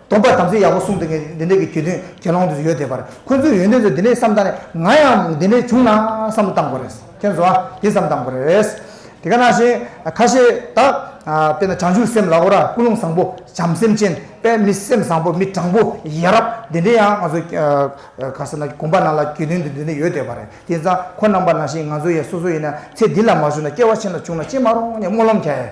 སྟོང་པ་དམ་ཚིག་ཡག་པོ་གསུངས་འདུག་ངས་འདི་འདྲ་གི་གྱོད་དོན་དགེ་སློང་དུ་ཡོད་བསྡད་པར་ཁོ་ཚོའི་ཡོན་ཏན་ཚོ་འདི་འདྲའི་བསམ་སྟངས་ནས་ང་ཡང་འདི་འདྲའི་བྱུང་ན་བསམ་བློ་བཏང་དགོས་རེད་མཁྱེན་སོང་ཨ་དེ་བསམ་བཏང་དགོས་རེད། དེ་ག་ནང་བཞིན་ཁ་ཤས་དག་དཔེར་ན་བྱང་ཆུབ་སེམས་ལ་ཨོ་ར་ཀུན་སློང་བཟང་པོ་བྱམས་སེམས་ཅན་དཔལ་མི་སེམས་བཟང་པོ་མི་དྲང་པོ་ཡ་རབས་འདི་འདྲའི་ཡང་ང་ཚོ་ག་ས་ན་དགོན་པ་ནང་ལ་གྱོད་དོན་དུ་འདི་འདྲ་ཡོད་བསྡད་པ་རེད་དེ་ཚང་ཁོ་རྣམ་པ་ནང་བཞིན་ང་ཚོ་ཡང་སོ་སོ་ཡིན་ན་ཚེ་འདི་ལ་མ་བྱུང་ན་སྐྱེ་བ་ཕྱི་ལ་བྱུང་ན་ཅི་མ་རུང་ངས་སྨོན་ལམ་བྱས་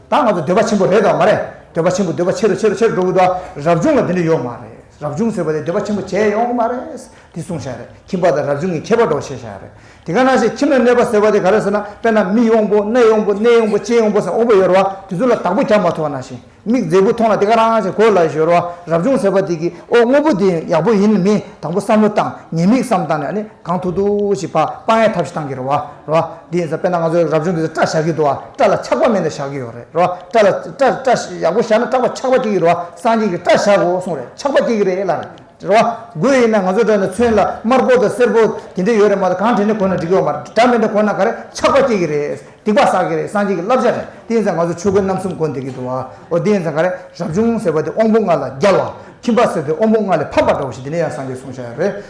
ད་ང་ཚོ་འདོད་པ་ཆེན་པོ་རེད་དང་མ་རེད། འདོད་པ་ཆེན་པོ་འདོད་པ་ཆེ་རུ་ཆེ་རུ་ཆེ་རུ་འགྲོ་གི་འདུག་ཨ། རབ་བྱུང་ལ་དེ་འདྲ་ཡོད་མ་རེད། རབ་བྱུང་ཟེར་བ་དེ་འདོད་པ་ཆེན་པོ་བྱས་ཡོང་གི་མ་རེད། དེ་གསུངས་བཞག་རེད། ཁྱིམ་པ་དང་རབ་བྱུང་གི་ཁྱད་པར་འགྲོ་བཤད་བཞག་རེད། དེ་ག་ནང་བཞིན་ཁྱིམ་ན་གནས་པ་ཟེར་བ་དེ་ག་རེད་ཟེར་ན་དཔེར་ན་མིག་ཡོང་པོ་སྣ་ཡོང་པོ་སྣེ་ཡོང་པོ་ལྕེ་ཡོང་པོ་ཟེར་འོང་པོ་ཡོད་རེད་བ་དེ་ཚོ་ལ་དག་པོ་རྒྱག་མ་ཐུབ་པ་ནང་བཞིན་མིག་མཛེས་པོ་མཐོང་ན་དེ་ག་རང་བཞིན་གོ་ལ་ཡོད་རེད་བ་རབ་བྱུང་ཟེར་བ་དེ་གི་ཨོ་དངོས་པོ་དེ་ཡག་པོ་ཡིན་མིན་དང་པོ་བསམ་བློ་བཏང་ཉེས་དམིགས་བསམ་བཏང་ནས་ཨ་ནི། གང་ཐུག་ཐུག་ཞིག་པགས་པགས་ཡ་ཐབས་ཤིག་གཏང་གི་རེད་བ་རེད་བ། དེ་ཡིན་ས་དཔེར་ན་ང་ཚོའི་རབ་བྱུང་གི་སྐྲ་བཞར་གི་འདུག་བ་སྐྲ་ལ་ཆག་པ་མེད་ན་བཞག་གི་ཡོད་རེད་རེད་བ། སྐྲ་ལ་སྐྲ་སྐྲ་ཡག་པོ་བཞར་ན་སྐྲག་པ་ཆག་པ་སྐྱེ་གི་རེད་བ་སངས་རྒྱས་ཀྱི་སྐྲ་བཞག་གོ་གསུངས་རེད་ཆག་པ་སྐྱེ་གི་རེད་ལ་རེད་རེད་བ། དགོས་ཡིན་ན་ང་ཚོའི་སྐྲ་ནི་མཚོན་ལ་དམར་པོ་དང་སེར་པོ་དེ་འདྲས་ཡོད་རེད་མ་ད་གང་དྲན་ནས་གོན་ན་འགྲིག་གི་བ་མ་རེད་སྐྲ་མེད་ན་གོན་ན་ག་རེ་ཆག་པ་སྐྱེ་གི་རེད་སྡིག་པ་བསགས་གི་རེད་སངས་རྒྱས་ཀྱི་བསླབ་བྱ་རེད་དེ་ཡིན་ས་ང་ཚོ་ཆོས་གོས་རྣམ་གསུམ་གོན་བསྡད་གི་འདུག་བ་འོ་དེ་ཡིན་ས་ག་རེ་རབ་བྱུང་ཟེར་བ་དེ་དབང་པོ་ལྔ་ལ་རྒྱལ་བ་ཁྱིམ་པ་ཟེར་དེ་དབང་པོ་ལྔ་ལས་ཕམ་པ་འདྲ་བོ་ཞིག་དེ་ནས་ཡང་སངས་རྒྱས་གསུངས་བཞག་ཡོད་རེད།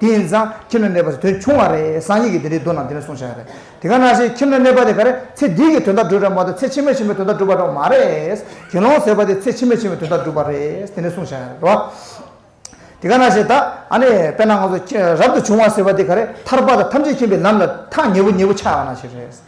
དེ་ཡིན་ཙང་ཁྱིམ་ན་གནས་པ་དེ་དོན་ཆུང་བ་རེད་སང་ཉིན་གྱི་དེ་འདྲའི་དོན་རྣམས་དེ་ནས་གསུང་བྱ་ཡ་རེད་དེ་ག་ནང་བཞིན་ཁྱིམ་ན་གནས་པ་དེ་ག་རེ་ཚེ་འདིའི་གི་དོན་དག་སྒྲུབ་ར་མ་གཏོགས་ཚེ་ཕྱི་མའི་ཕྱི་མའི་དོན་དག་སྒྲུབ་པ་འགྲོ་མ་རེད་དགེ་སློང་ཟེར་བ་དེ་ཚེ་ཕྱི་མའི་ཕྱི་མའི་དོན་དག་སྒྲུབ་པ་རེད་དེ་ནས་གསུང་བྱ་ཡ་རེད་བ། དེ་ག་ནང་བཞིན་ད་ཨ་ནི་དཔེར་ན་ང་ཚོ་རབ་ཏུ་བྱུང་བ་ཟེར་བ་དེ་ག་རེ་ཐར་པ་དང་ཐམས་ཅད་མཁྱེན་པའི་ལམ་ལ་ཐག་ཉེ་བོ་ཉེ་བོ་ཆགས་པ་ན་ཞིག་རེད།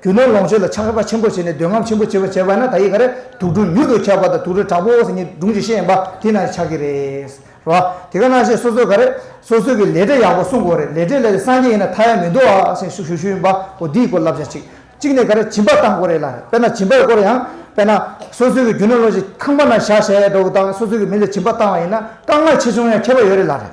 རྒྱུ་ནོར་ལོངས་སྤྱོད་ལ་ཆགས་པ་ཆེན་པོ་བྱས་ནས་འདོད་རྔམ་ཆེན་པོ་བྱེད་པ་བྱས་པ་ན་ད་ཡིད་ག་རེ་དུག་སྦྲུལ་མྱུར་དུ་ཁྱབ་པ་དང་དུག་སྦྲུལ་དྲག་པོ་བོ་ཟེར་གཉིས་སྦྲུང་བྱེད་ཤེས་ཡིན་པ་དེ་ན་ཆགས་ཀྱི་རེད། རོ། དེ་ག་ན་བྱས་སོ་སོས་ག་རེ་སོ་སོའི་གི་ལས་འབྲས་ཡག་པོ་སྲུང་དགོས་རེད་ལས་འབྲས་ལས་སངས་རྒྱས་ཡིན་ན་མཐའ་ཡས་མི་འདུག་ཨ་ཞེས་ཞུ་ཞུ་ཡིན་པ་བོ་དེའི་སྐོར་བསླབ་བྱ་གཅིག་གཅིག་ནས་ག་རེ་སྦྱིན་པ་བཏང་དགོས་རེད་ལ་རེད་དཔེར་ན་སྦྱིན་པའི་སྐོར་ཡང་དཔེར་ན་སོ་སོའི་གི་རྒྱུ་ནོར་ལོངས་སྤྱོད་ཁང་པ་ན་བཞག་བྱས་འགྲོ་དགོས་དང་སོ་སོའི་གི་མི་ལ་སྦྱིན་པ་བཏང་བ་ཡིན་ན་དཀའ་ངལ་ཆེ་ཆུང་ཡང་ཁྱད་པར་ཡོད་རེད་ལ་རེད།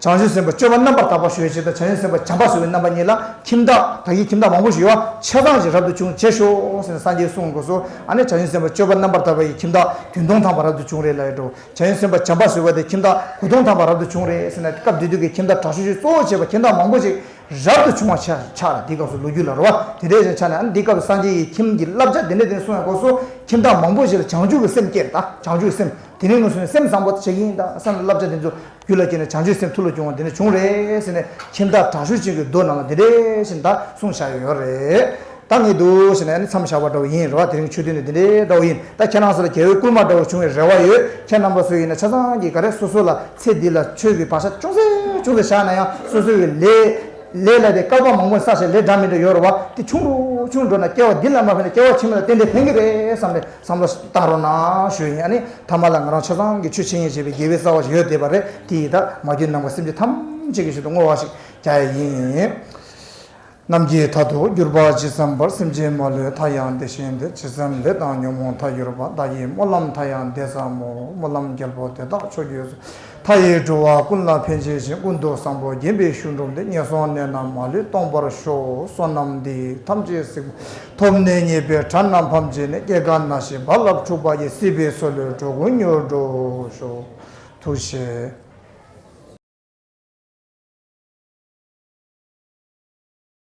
བྱང་ཆུབ་སེམས་དཔའ་སྤྱོད་པ་རྣམ་པར་དག་པ་ཞུ་བའི་ཕྱིར་དང་བྱང་ཆུབ་སེམས་དཔའ་བྱམས་པ་བཟོ་བའི་རྣམ་པ་གཉིས་ལ་ཁྱིམ་བདག་བདག་གིས་ཁྱིམ་བདག་མང་པོ་ཞིག་ཡོད་བ་ཆད་གཏང་ཞིང་རབ་ཏུ་བྱུང་བྱེད་ཤོག་ཟེར་ནས་སངས་རྒྱས་གསུང་དགོས་སོ། ཨ་ནི་བྱང་ཆུབ་སེམས་དཔའ་སྤྱོད་པ་རྣམ་པར་དག་པ་ཡིས་ཁྱིམ་བདག་དུས་སྟོང་ཐམ་པ་རབ་ཏུ་བྱུང་རེ་ལ་ཡོད་དོ། བྱང་ཆུབ་སེམས་དཔའ་བྱམས་པ་བཟོ་བ་དེས་ཁྱིམ་བདག་དགུ་སྟོང་ཐམ་པ་རབ་ཏུ་བྱུང་རེ་ཟེར་ན་སྐབས་དེ་དུས་ཀྱི་ཁྱིམ་བདག་དྲག་ཤུལ་ཤུལ་གཙོ་བོར་བྱས་པ་ཁྱིམ་བདག་མང་པོ་ཞིག་རབ་ཏུ་བྱུང་བ་ཆགས་ལ་དེའི་སྐབས་སུ་ལོ་རྒྱུས་ལ་རོལ་བ་དེ་འདྲའི་ཞིག་ཆགས་ནས་ཨ་ནི་དེའི་སྐབས་སུ་སངས་རྒྱས་ཀྱིས་ཁྱིམ་གྱི་བསླབ་བྱ་དེ་འདྲ་དེ་ནས་གསུང་ཡང་དགོས་སོ། ཁྱིམ་བདག་མང་པོ་ཞིག་ལ་བྱང་ཆུབ་ཀྱི་སེམས་སྐྱེས་ལ་བྱང་ཆུབ་ཀྱི་སེམས་དེ་ནས་ངོ་སོ་ནས་སེམས་བཟང་པོ་བྱེད་ཀྱིན་ད་སངས་རྒྱས་ཀྱི་བསླབ་བྱ་དེ་ཚོ་རྒྱུད་ལ་སྐྱེས་ནས་བྱང་ཆུབ་སེམས་ཐུགས་ལ་བྱུང་བ་འདི་ནས་བྱུང་རེད་ཟེར་ནས་ཁྱིམ་བདག་དྲག་ཤུལ་ཅན་གྱི་རྡོ་རྣམས་ལ་འདི་འདྲས་ཞེས་མདའ་གསུངས་བཞག་ཡོད་རེད་ད་ངས་འདུག་ཟེར་ནས་མཚམས་བཞག་པ་འདྲ་བོ་ཡིན་རེད་བ་དེ་རིང་ཆོས་ཐུན་ནི་འདི་འདྲའི་འདྲ་བོ་ཡིན་ད་ཁྱེད་རང་ཚོ་ལ་རྒྱལ་བོའི་བསྐུལ་མ་འདྲ་བོ་བྱུང་བའི་རེ་བ་ཡོད་ཁྱེད་རྣམ་པ་སུ་ཡིན་ན་ཆ་ཚང་གིས་ག་རེ་སོ་སོ་ལ་ཚེ་འདི་ལ་ཆོས་ཀྱི་བག་ཆགས་ཅུང་ཟད་ཅུང་ཟད་བཞག་ན་ཡང་སོ་སོའི་བའི་ལས། ལས་ལ་དེ་བཀག་པ་མང་པོ་ས་ཞིག་ལས་འདྲ་མི་འདྲ་ཡོད་རེད་བ་དེ་ཆུང་འགྲོ་ཆུང་འགྲོ་ན་སྐྱེ་བ་འདི་ལ་མ་ཕན་ན་སྐྱེ་བ་ཕྱི་མ་ལ་བརྟེན་འབྲེལ་ཕན་གྱི་རེད་བསམ་ནས་བསམ་བློ་བཏང་རོགས་གནང་ཞུ་ཡིན་ཨ་ནི་ཐ་མ་ལ་ང་རང་ཆོས་ཚང་གི་ཆོས་འཆད་ཉན་བྱེད་པའི་དགེ་བའི་རྩ་བ་ཞིག་ཡོད་བསྡད་པ་རེད་དེ་ཡི་དྭགས་མ་རྒྱུད་ནང་པ་སེམས་ཅན་ཐམས་ཅད་ཀྱི་ཞོར་དུ་བསྔོ་བ་ཞིག་རྒྱག་ཡ་ཡིན། རྣམ་རྒྱལ་མཐའ་དུ་གྱུར་པ་ཇི་བསམ་པར་སེམས་ཅན་མ་ལུས་མཐའ་ཡང་བདེ་ཞིང་བདེ་ཇི་བསམ་ལས་དང་ཉོན་མོངས་མཐའ་གྱུར་པ་བདག་གིས་སྨོན་ལམ་མཐའ་ཡང་བདེ་བསམ་མོ་སྨོན་ལམ་རྒྱལ་པོ་དེ་དག་ཕྱོགས་བརྒྱུད་སུ་མཐའ་ཡས་འགྲོ་བ་ཀུན་ལ་ཕན་བྱེད་ཅིང་སྐུ་མདོག་བཟང་པོ་བརྒྱན་པའི་ཤུལ་འགྲོ་འདི་ངན་སོང་གནས་རྣམས་མ་ལུས་སྟོངས་པར་ཤོག་བསོད་ནམས་འདི་ཐམས་ཅད་གཟིགས། ཐོབ་ནས་ཉེས་པའི་དགྲ་རྣམས་ཕམ་བྱས་ནས་སྐྱེ་རྒ་ན་འཆིའི་རྦ་རླབས་འཁྲུགས་པ་ཡི་སྲིད་པའི་སྲོལ་ལོའི་འགྲོ་ཀུན་མྱུར་འགྲོ་ཤོག། ཐུགས་ཆེ།